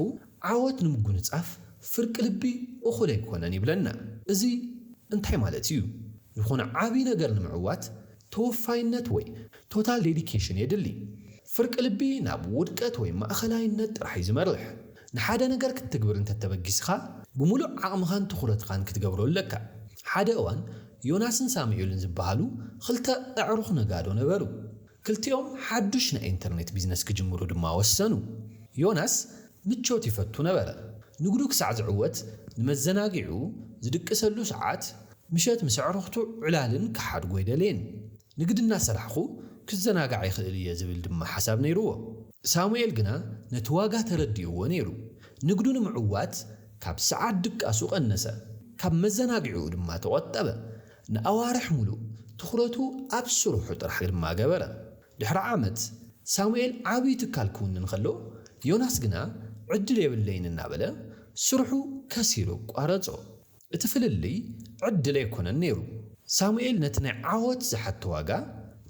ዓወት ንምጉንጻፍ ፍርቂ ልቢ እኹል ኣይኮነን ይብለና። እዚ እንታይ ማለት እዩ? ዝኾነ ዓቢ ነገር ንምዕዋት ተወፋይነት ወይ ቶታል ዴዲኬሽን የድሊ። ፍርቂ ልቢ ናብ ውድቀት ወይ ማእኸላይነት ጥራሕ እዩ ዝመርሕ። ንሓደ ነገር ክትትግብር እንተተበጊስኻ ብምሉእ ዓቕምኻን ትኹረትኻን ክትገብሮ ኣለካ። ሓደ እዋን ዮናስን ሳሙኤልን ዝበሃሉ ኽልተ ኣዕሩኽ ነጋዶ ነበሩ። ክልቲኦም ሓዱሽ ናይ ኢንተርኔት ቢዝነስ ክጅምሩ ድማ ወሰኑ። ዮናስ ምቾት ይፈቱ ነበረ። ንግዱ ክሳዕ ዝዕወት ንመዘናግዒኡ ዝድቅሰሉ ሰዓት ምሸት ምስ ኣዕሩኽቱ ዕላልን ክሓድጎ ኣይደለየን። ንግዲ እናሰራሕኹ ክዘናጋዕ ይኽእል እየ ዝብል ድማ ሓሳብ ነይሩዎ። ሳሙኤል ግና ነቲ ዋጋ ተረዲኡዎ ነይሩ። ንግዱ ንምዕዋት ካብ ሰዓት ድቃሱ ቀነሰ፣ ካብ መዘናግዒኡ ድማ ተቖጠበ። ንኣዋርሕ ሙሉእ ትኹረቱ ኣብ ስርሑ ጥራሕ ድማ ገበረ። ድሕሪ ዓመት ሳሙኤል ዓብዪ ትካል ክውንን ከሎ፣ ዮናስ ግና ዕድል የብለይን እናበለ ስርሑ ከሲሩ ኣቋረፆ። እቲ ፍልልይ ዕድል ኣይኮነን ነይሩ። ሳሙኤል ነቲ ናይ ዓወት ዝሓቶ ዋጋ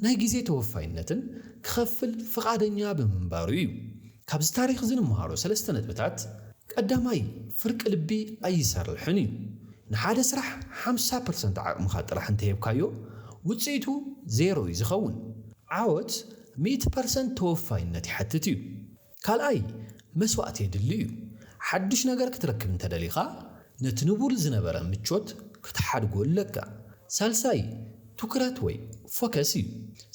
ናይ ግዜ ተወፋይነትን ክኸፍል ፍቓደኛ ብምንባሩ እዩ። ካብዚ ታሪኽ እዚ ንምሃሮ ሰለስተ ነጥብታት፣ ቀዳማይ ፍርቂ ልቢ ኣይሰርሕን እዩ። ንሓደ ስራሕ ሓምሳ ፐርሰንት ዓቕምኻ ጥራሕ እንተሂብካዮ ውጽኢቱ ዜሮ እዩ ዝኸውን። ዓወት ሚእቲ ፐርሰንት ተወፋይነት ይሓትት እዩ። ካልኣይ፣ መስዋእቲ የድሊ እዩ። ሓድሽ ነገር ክትረክብ እንተ ደሊኻ፣ ነቲ ንቡር ዝነበረ ምቾት ክትሓድጎ ኣለካ። ሳልሳይ፣ ትኩረት ወይ ፎከስ እዩ።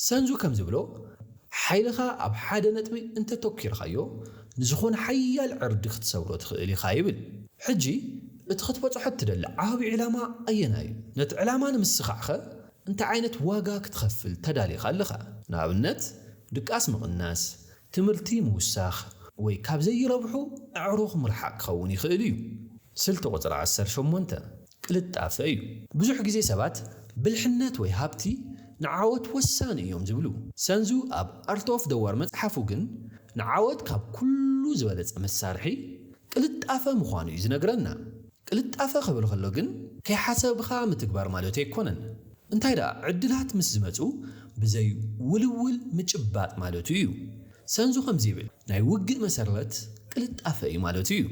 ሰንዙ ከም ዝብሎ፣ ሓይልኻ ኣብ ሓደ ነጥቢ እንተ ኣተኲርካዮ፣ ንዝዀነ ሓያል ዕርዲ ክትሰብሮ ትኽእል ኢኻ ይብል። ሕጂ፣ እቲ ክትበጽሖ እትደሊ ዓቢ ዕላማ ኣየናይ እዩ? ነቲ ዕላማ ንምስኻዕከ እንታይ ዓይነት ዋጋ ክትኸፍል ተዳሊኻ ኣለኻ? ንኣብነት፣ ድቃስ ምቕናስ፣ ትምህርቲ ምውሳኽ ወይ ካብ ዘይረብሑ ኣዕሩኽ ምርሓቕ ክኸውን ይኽእል እዩ። ስልቲ ቁጽሪ ዓሰርተ ሸሞንተ ቅልጣፈ እዩ። ብዙሕ ግዜ ሰባት ብልሕነት ወይ ሃብቲ ንዓወት ወሳኒ እዮም ዝብሉ። ሰንዙ ኣብ ኣርት ኦፍ ዘ ዋር መጽሓፉ ግን ንዓወት ካብ ኩሉ ዝበለጸ መሳርሒ ቅልጣፈ ምዃኑ እዩ ዝነግረና። ቅልጣፈ ክብል ከሎ ግን ከይሓሰብኻ ምትግባር ማለት ኣይኮነን። እንታይ ደኣ ዕድላት ምስ ዝመጹ ብዘይ ውልውል ምጭባጥ ማለቱ እዩ። ሰንዙ ከምዚ ይብል፣ ናይ ውግእ መሰረት ቅልጣፈ እዩ ማለቱ እዩ።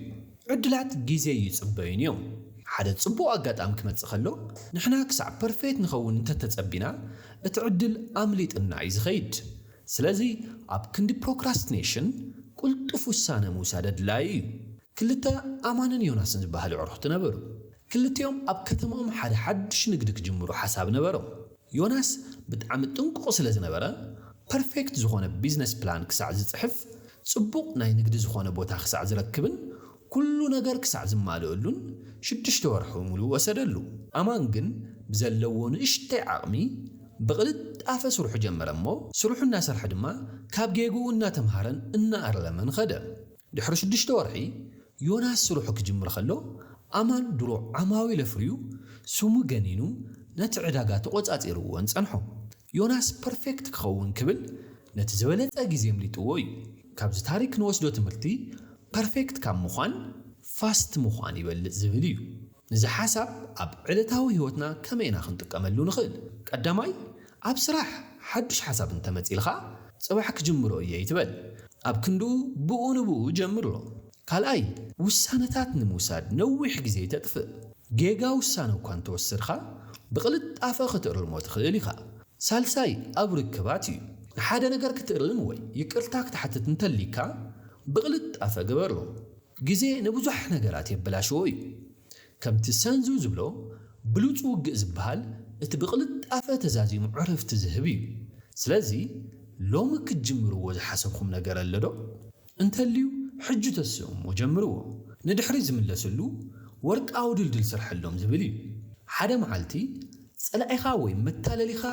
ዕድላት ግዜ ኣይጽበዩን እዮም። ሓደ ጽቡቕ ኣጋጣሚ ክመጽእ ከሎ ንሕና ክሳዕ ፐርፌት ንኸውን እንተ ተጸቢና እቲ ዕድል ኣምሊጥና እዩ ዝኸይድ። ስለዚ ኣብ ክንዲ ፕሮክራስትኔሽን ቁልጡፍ ውሳነ ምውሳድ ኣድላዪ እዩ። ክልተ ኣማንን ዮናስን ዝበሃሉ ኣዕሩኽቲ ነበሩ። ክልቲኦም ኣብ ከተማኦም ሓደ ሓድሽ ንግዲ ክጅምሩ ሓሳብ ነበሮም። ዮናስ ብጣዕሚ ጥንቁቕ ስለ ዝነበረ፣ ፐርፌክት ዝኾነ ቢዝነስ ፕላን ክሳዕ ዝጽሕፍ፣ ጽቡቕ ናይ ንግዲ ዝኾነ ቦታ ክሳዕ ዝረክብን ኩሉ ነገር ክሳዕ ዝማልእሉን ሽዱሽተ ወርሑ ምሉእ ወሰደሉ። ኣማን ግን ብዘለዎ ንእሽተይ ዓቕሚ ብቕልጣፈ ስርሑ ጀመረ እሞ፣ ስርሑ እናሰርሐ ድማ ካብ ጌግኡ እናተምሃረን እናኣረመን ኸደ። ድሕሪ ሽዱሽተ ወርሒ ዮናስ ስርሑ ክጅምር ከሎ፣ ኣማን ድሮ ዓማዊል ኣፍርዩ ስሙ ገኒኑ ነቲ ዕዳጋ ተቖጻጺርዎን ጸንሖ። ዮናስ ፐርፌክት ክኸውን ክብል ነቲ ዝበለጸ ግዜ ኣምሊጥዎ እዩ። ካብዚ ታሪክ ንወስዶ ትምህርቲ ፐርፌክት ካብ ምዃን ፋስት ምዃን ይበልጽ ዝብል እዩ። እዚ ሓሳብ ኣብ ዕለታዊ ህይወትና ከመይ ኢና ክንጥቀመሉ ንኽእል? ቀዳማይ፣ ኣብ ስራሕ ሓዱሽ ሓሳብ እንተ መጺልካ፣ ጽባሕ ክጅምሮ እየ ኣይትበል። ኣብ ክንድኡ ብኡ ንብኡ ጀምሮ። ካልኣይ፣ ውሳነታት ንምውሳድ ነዊሕ ግዜ ኣይተጥፍእ። ጌጋ ውሳነ እኳ እንተ ወሰድካ፣ ብቕልጣፈ ክትእርሞ ትኽእል ኢኻ። ሳልሳይ፣ ኣብ ርክባት እዩ። ንሓደ ነገር ክትእርም ወይ ይቅርታ ክትሓትት እንተ'ልይካ፣ ብቕልጣፈ ግበሮ። ግዜ ንብዙሕ ነገራት የበላሽዎ እዩ። ከምቲ ሰንዙ ዝብሎ ብሉጽ ውግእ ዝበሃል እቲ ብቕልጣፈ ተዛዚሙ ዕረፍቲ ዝህብ እዩ። ስለዚ ሎሚ ክትጅምርዎ ዝሓሰብኩም ነገር ኣሎዶ? እንተልዩ ሕጂ ተስእሞ ጀምርዎ። ንድሕሪት ዝምለስሉ ወርቃዊ ድልድል ስርሐሎም ዝብል እዩ። ሓደ መዓልቲ ጸላኢኻ ወይ መታለሊኻ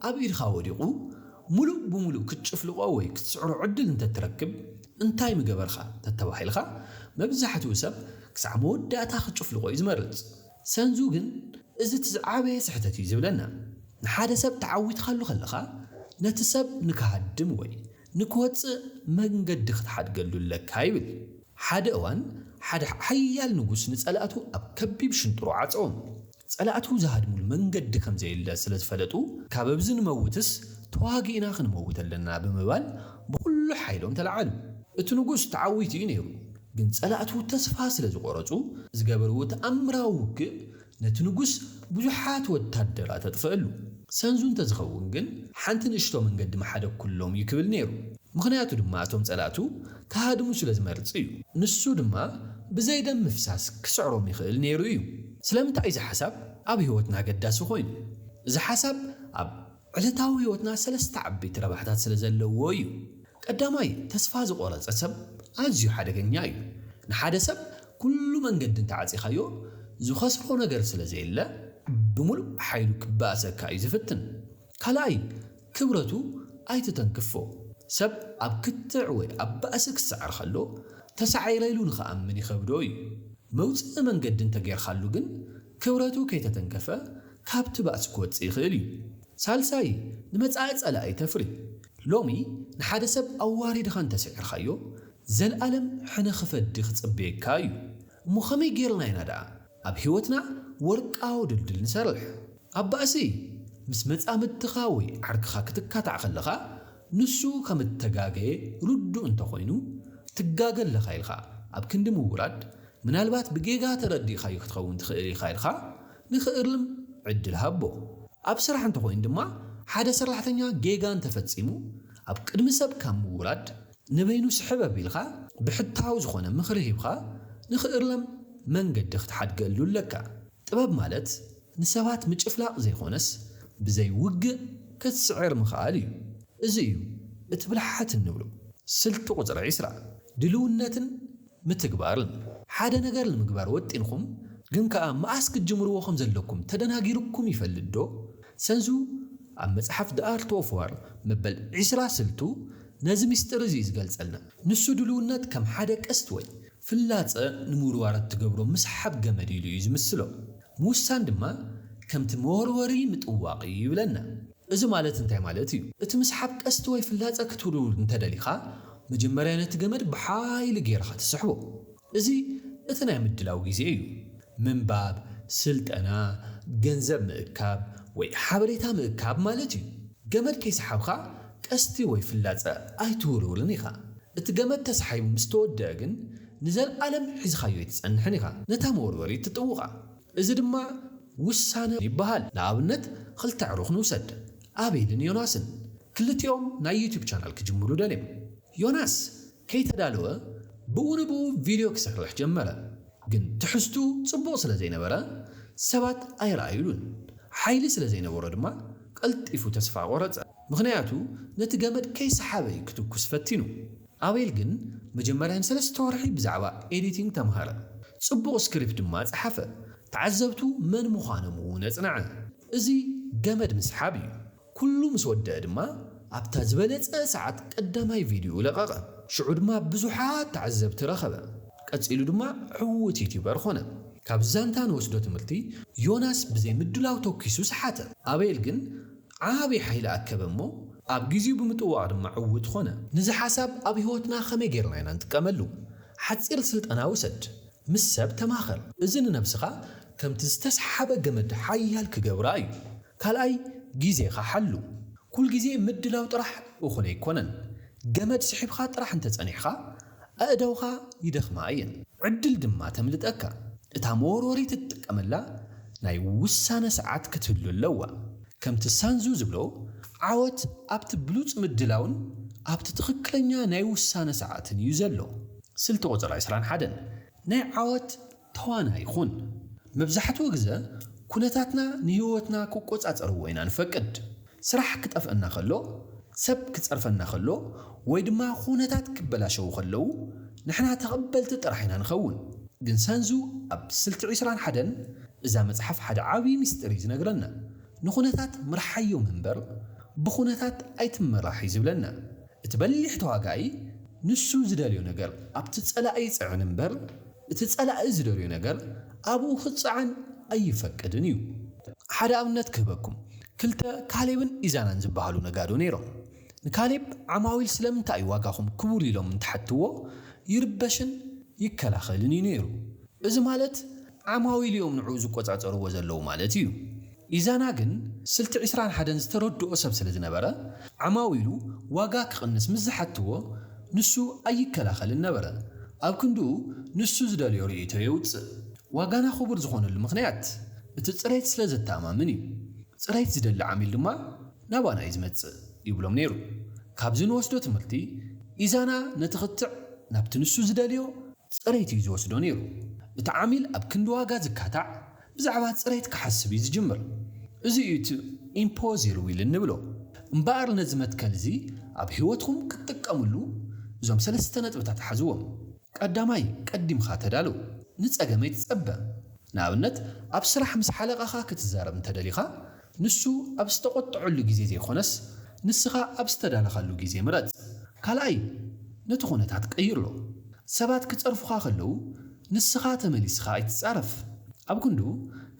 ኣብ ኢድኻ ወዲቑ ምሉእ ብምሉእ ክትጭፍልቖ ወይ ክትስዕሮ ዕድል እንተ እትረክብ እንታይ ምገበርካ ተተባሂልካ፣ መብዛሕትኡ ሰብ ክሳዕ መወዳእታ ክጭፍልቖ እዩ ዝመርጽ። ሰንዙ ግን እዚ እቲ ዝዓበየ ስሕተት እዩ ዝብለና። ንሓደ ሰብ ተዓዊትካሉ ከለኻ ነቲ ሰብ ንክሃድም ወይ ንክወጽእ መንገዲ ክትሓድገሉ ኣለካ ይብል። ሓደ እዋን ሓደ ሓያል ንጉስ ንጸላእቱ ኣብ ከቢብ ሽንጥሮ ዓጸዎም። ጸላእቱ ዝሃድሙሉ መንገዲ ከም ዘየለ ስለ ዝፈለጡ፣ ካበብዚ ንመውትስ ተዋጊእና ክንመውት ኣለና ብምባል ብኹሉ ሓይሎም ተለዓሉ። እቲ ንጉስ ተዓዊቱ እዩ ነይሩ፣ ግን ጸላእቱ ተስፋ ስለ ዝቖረጹ፣ ዝገበርዎ ተኣምራዊ ውግእ ነቲ ንጉስ ብዙሓት ወታደራት ኣጥፈኣሉ። ሰንዙ እንተ ዝኸውን ግን ሓንቲ ንእሽቶ መንገዲ ምሓደግኩሎም እዩ ክብል ነይሩ። ምኽንያቱ ድማ እቶም ጸላእቱ ክሃድሙ ስለ ዝመርጽ እዩ። ንሱ ድማ ብዘይ ደም ምፍሳስ ክስዕሮም ይኽእል ነይሩ እዩ። ስለምንታይ እዚ ሓሳብ ኣብ ህይወትና ኣገዳሲ ዀይኑ? እዚ ሓሳብ ኣብ ዕለታዊ ህይወትና ሰለስተ ዓበይቲ ረብሓታት ስለ ዘለዎ እዩ። ቀዳማይ፣ ተስፋ ዝቖረጸ ሰብ ኣዝዩ ሓደገኛ እዩ። ንሓደ ሰብ ኵሉ መንገዲ እንተ ዓጺኻዮ፣ ዝኸስሮ ነገር ስለ ዘየለ ብምሉእ ሓይሉ ክበኣሰካ እዩ ዝፍትን። ካልኣይ ክብረቱ ኣይትተንክፎ። ሰብ ኣብ ክትዕ ወይ ኣብ ባእሲ ክሰዕር ከሎ ተሳዒረ ኢሉ ንኽኣምን ይኸብዶ እዩ። መውጽኢ መንገዲ እንተጌርካሉ ግን ክብረቱ ከይተተንከፈ ካብቲ ባእሲ ክወጽእ ይኽእል እዩ። ሳልሳይ ንመጻኢ ጸላኢ ተፍሪ። ሎሚ ንሓደ ሰብ ኣዋሪድኻ እንተስዒርካዮ ዘልኣለም ሕነ ክፈዲ ክጽበየካ እዩ። እሞ ከመይ ጌርና ኢና ደኣ ኣብ ሕይወትና ወርቃዊ ድልድል ንሰርሕ። ኣብ ባእሲ፣ ምስ መጻምድትኻ ወይ ዓርክኻ ክትካታዕ ከለኻ፣ ንሱ ከም እተጋገየ ርዱእ እንተ ኾይኑ፣ ትጋገ ኣለኻ ኢልካ ኣብ ክንዲ ምውራድ፣ ምናልባት ብጌጋ ተረዲእካዮ ክትኸውን ትኽእል ኢኻ ኢልካ ንኽእርም ዕድል ሃቦ። ኣብ ስራሕ እንተ ኾይኑ ድማ፣ ሓደ ሰራሕተኛ ጌጋ እንተ ፈጺሙ፣ ኣብ ቅድሚ ሰብ ካብ ምውራድ፣ ንበይኑ ስሕብ ኣቢልካ ብሕታዊ ዝኾነ ምኽሪ ሂብካ ንኽእረም መንገዲ ክትሓድገሉ ኣለካ። ጥበብ ማለት ንሰባት ምጭፍላቕ ዘይኮነስ ብዘይ ውግእ ክትስዕር ምኽኣል እዩ። እዚ እዩ እቲ ብልሓት እንብሎ። ስልቲ ቁጽሪ ዕስራ ድልውነትን ምትግባርን። ሓደ ነገር ንምግባር ወጢንኹም ግን ከኣ መኣስ ክትጅምርዎ ከም ዘለኩም ተደናጊርኩም ይፈልጥ ዶ? ሰንሱ ኣብ መጽሓፍ The Art of War መበል ዕስራ ስልቱ ነዚ ምስጢር እዚ እዩ ዝገልጸልና። ንሱ ድሉውነት ከም ሓደ ቀስት ወይ። ፍላጸ ንምውርዋር እትገብሮ ምስሓብ ገመድ ኢሉ እዩ ዝምስሎ። ምውሳን ድማ ከምቲ መወርወሪ ምጥዋቕ እዩ ይብለና። እዚ ማለት እንታይ ማለት እዩ? እቲ ምስሓብ ቀስቲ ወይ ፍላጸ ክትውልውል እንተ ደሊኻ፣ መጀመርያ ነቲ ገመድ ብሓይሊ ገይርኻ ትስሕቦ። እዚ እቲ ናይ ምድላው ግዜ እዩ። ምንባብ፣ ስልጠና፣ ገንዘብ ምእካብ ወይ ሓበሬታ ምእካብ ማለት እዩ። ገመድ ከይሰሓብካ ቀስቲ ወይ ፍላጸ ኣይትውልውልን ኢኻ። እቲ ገመድ ተሳሒቡ ምስ ተወድኣ ግን ንዘልኣለም ሒዝኻዮ ኣይትጸንሕን ኢኻ። ነታ መወርወሪት ትጥውቓ። እዚ ድማ ውሳነ ይበሃል። ንኣብነት ኽልተ ኣዕሩኽ ንውሰድ፣ ኣቤልን ዮናስን። ክልቲኦም ናይ ዩቱብ ቻናል ክጅምሩ ደልዮም። ዮናስ ከይተዳለወ ብኡ ንብኡ ቪድዮ ክሰርሕ ጀመረ። ግን ትሕዝትኡ ጽቡቕ ስለ ዘይነበረ ሰባት ኣይረኣዩሉን። ሓይሊ ስለ ዘይነበሮ ድማ ቀልጢፉ ተስፋ ቖረጸ። ምኽንያቱ ነቲ ገመድ ከይሰሓበ እዩ ክትኩስ ፈቲኑ። ኣቤል ግን መጀመርያ ንሰለስተ ወርሒ ብዛዕባ ኤዲቲንግ ተምሃረ፣ ጽቡቕ ስክሪፕት ድማ ጸሓፈ፣ ተዓዘብቱ መን ምዃኖም እውን ኣጽንዐ። እዚ ገመድ ምስሓብ እዩ። ኩሉ ምስ ወደኣ ድማ ኣብታ ዝበለጸ ሰዓት ቀዳማይ ቪድዮኡ ለቐቐ። ሽዑ ድማ ብዙሓት ተዓዘብቲ ረኸበ። ቀጺሉ ድማ ዕዉት ዩትዩበር ኾነ። ካብዚ ዛንታ ንወስዶ ትምህርቲ፣ ዮናስ ብዘይ ምድላው ተኲሱ ሰሓተ። ኣቤል ግን ዓቢ ሓይሊ ኣከበ እሞ ኣብ ግዜኡ ብምጥዋቕ ድማ ዕዉት ኾነ። ነዚ ሓሳብ ኣብ ህይወትና ከመይ ጌርና ኢና ንጥቀመሉ? ሓጺር ስልጠና ውሰድ። ምስ ሰብ ተማኸር። እዚ ንነብስኻ ከምቲ ዝተስሓበ ገመድ ሓያል ክገብራ እዩ። ካልኣይ ግዜኻ ሓሉ። ኩልግዜ ምድላው ጥራሕ እኹል ኣይኮነን። ገመድ ስሒብካ ጥራሕ እንተጸኒሕኻ፣ ኣእዳውካ ይደኽማ እየን፣ ዕድል ድማ ተምልጠካ። እታ መወርወሪት እትጥቀመላ ናይ ውሳነ ሰዓት ክትህሉ ኣለዋ። ከምቲ ሳንዙ ዝብሎ፣ ዓወት ኣብቲ ብሉጽ ምድላውን ኣብቲ ትኽክለኛ ናይ ውሳነ ሰዓትን እዩ ዘሎ። ስልቲ ቁጽሪ ዕስራን ሓደን ናይ ዓወት። ተዋናይ ኹን። መብዛሕትኡ ግዘ ኩነታትና ንህይወትና ክቆፃፀርዎ ኢና ንፈቅድ። ስራሕ ክጠፍኣና ከሎ፣ ሰብ ክፀርፈና ከሎ ወይ ድማ ኹነታት ክበላሸዉ ከለዉ ንሕና ተቐበልቲ ጥራሕ ኢና ንኸውን። ግን ሰንዙ ኣብ ስልቲ ዕስራን ሓደን እዛ መፅሓፍ ሓደ ዓብዪ ሚስጢር እዩ ዝነግረና። ንኹነታት ምርሓዮም እምበር ብኹነታት ኣይትመራሕ እዩ ዝብለና። እቲ በሊሕ ተዋጋኢ ንሱ ዝደልዮ ነገር ኣብቲ ፀላኢ ይፅዕን እምበር እቲ ጸላኢ ዝደልዮ ነገር ኣብኡ ክጸዓን ኣይፈቅድን እዩ። ሓደ ኣብነት ክህበኩም፣ ክልተ ካሌብን ኢዛናን ዝበሃሉ ነጋዶ ነይሮም። ንካሌብ ዓማዊል ስለምንታይ እዩ ዋጋኹም ክቡር ኢሎም እንትሓትዎ ይርበሽን ይከላኸልን እዩ ነይሩ። እዚ ማለት ዓማዊል እዮም ንዕኡ ዝቆጻጸርዎ ዘለዉ ማለት እዩ። ኢዛና ግን ስልቲ ዕስራን ሓደን ዝተረድኦ ሰብ ስለ ዝነበረ፣ ዓማዊሉ ዋጋ ክቕንስ ምስ ዝሓትዎ ንሱ ኣይከላኸልን ነበረ። ኣብ ክንድኡ ንሱ ዝደልዮ ርእይቶ የውጽእ። ዋጋና ክቡር ዝኾነሉ ምኽንያት እቲ ጽሬት ስለ ዘተኣማምን እዩ። ጽሬት ዝደሊ ዓሚል ድማ ናባና እዩ ዝመጽእ ይብሎም ነይሩ። ካብዚ ንወስዶ ትምህርቲ፣ ኢዛና ነቲ ክትዕ ናብቲ ንሱ ዝደልዮ፣ ጽሬት እዩ ዝወስዶ ነይሩ። እቲ ዓሚል ኣብ ክንዲ ዋጋ ዝካታዕ፣ ብዛዕባ ጽሬት ክሓስብ እዩ ዝጅምር። እዚ እዩ እቲ ኢምፖዚር ዊል እንብሎ። እምበኣር ነዚ መትከል እዚ ኣብ ህይወትኩም ክትጥቀምሉ እዞም ሰለስተ ነጥብታት ሓዝዎም። ቀዳማይ፣ ቀዲምካ ተዳሎ። ንጸገም ኣይትጸበ። ንኣብነት፣ ኣብ ስራሕ ምስ ሓለቓኻ ክትዛረብ እንተደሊኻ፣ ንሱ ኣብ ዝተቖጠዐሉ ግዜ ዘይኮነስ ንስኻ ኣብ ዝተዳለኻሉ ግዜ ምረጽ። ካልኣይ ነቲ ኩነታት ቀይሮ። ሰባት ክጸርፉኻ ከለዉ ንስኻ ተመሊስኻ ኣይትጻረፍ። ኣብ ክንዱ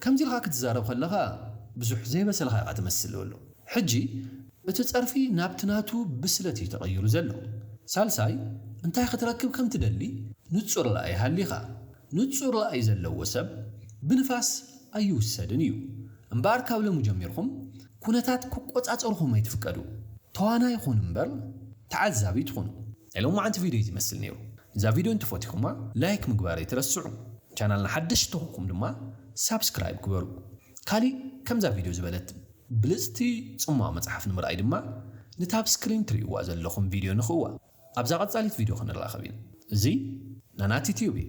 ከምዚ ኢልካ ክትዛረብ ከለኻ ብዙሕ ዘይበሰልካ ኢኻ ትመስል በሎ። ሕጂ እቲ ጸርፊ ናብቲ ናቱ ብስለት እዩ ተቐይሩ ዘሎ። ሳልሳይ እንታይ ክትረክብ ከም ትደሊ ንጹር ራኢ ሃሊኻ። ንጹር ራእይ ዘለዎ ሰብ ብንፋስ ኣይውሰድን እዩ። እምበኣር ካብ ሎሚ ጀሚርኩም ኩነታት ክቆጻጸርኹም ኣይትፍቀዱ። ተዋናይ ኩኑ እምበር ተዓዛቢ ኣይትኹኑ። ናይ ሎማዓንቲ ቪድዮ እዚ ይመስል ነይሩ እዛ ቪድዮ እንተፈቲኹማ ላይክ ምግባር ኣይትረስዑ ቻናልና ሓደሽቲ ተኾንኩም ድማ ሳብስክራይብ ግበሩ ካሊእ ከምዛ ቪድዮ ዝበለት ብልጽቲ ጽሟቕ መጽሓፍ ንምርኣይ ድማ ነታ ኣብ ስክሪን ትርእይዋ ዘለኹም ቪድዮ ንኽእዋ ኣብዛ ቀጻሊት ቪድዮ ክንራኸብ ኢና እዚ ናናቲ ቲዩብ እዩ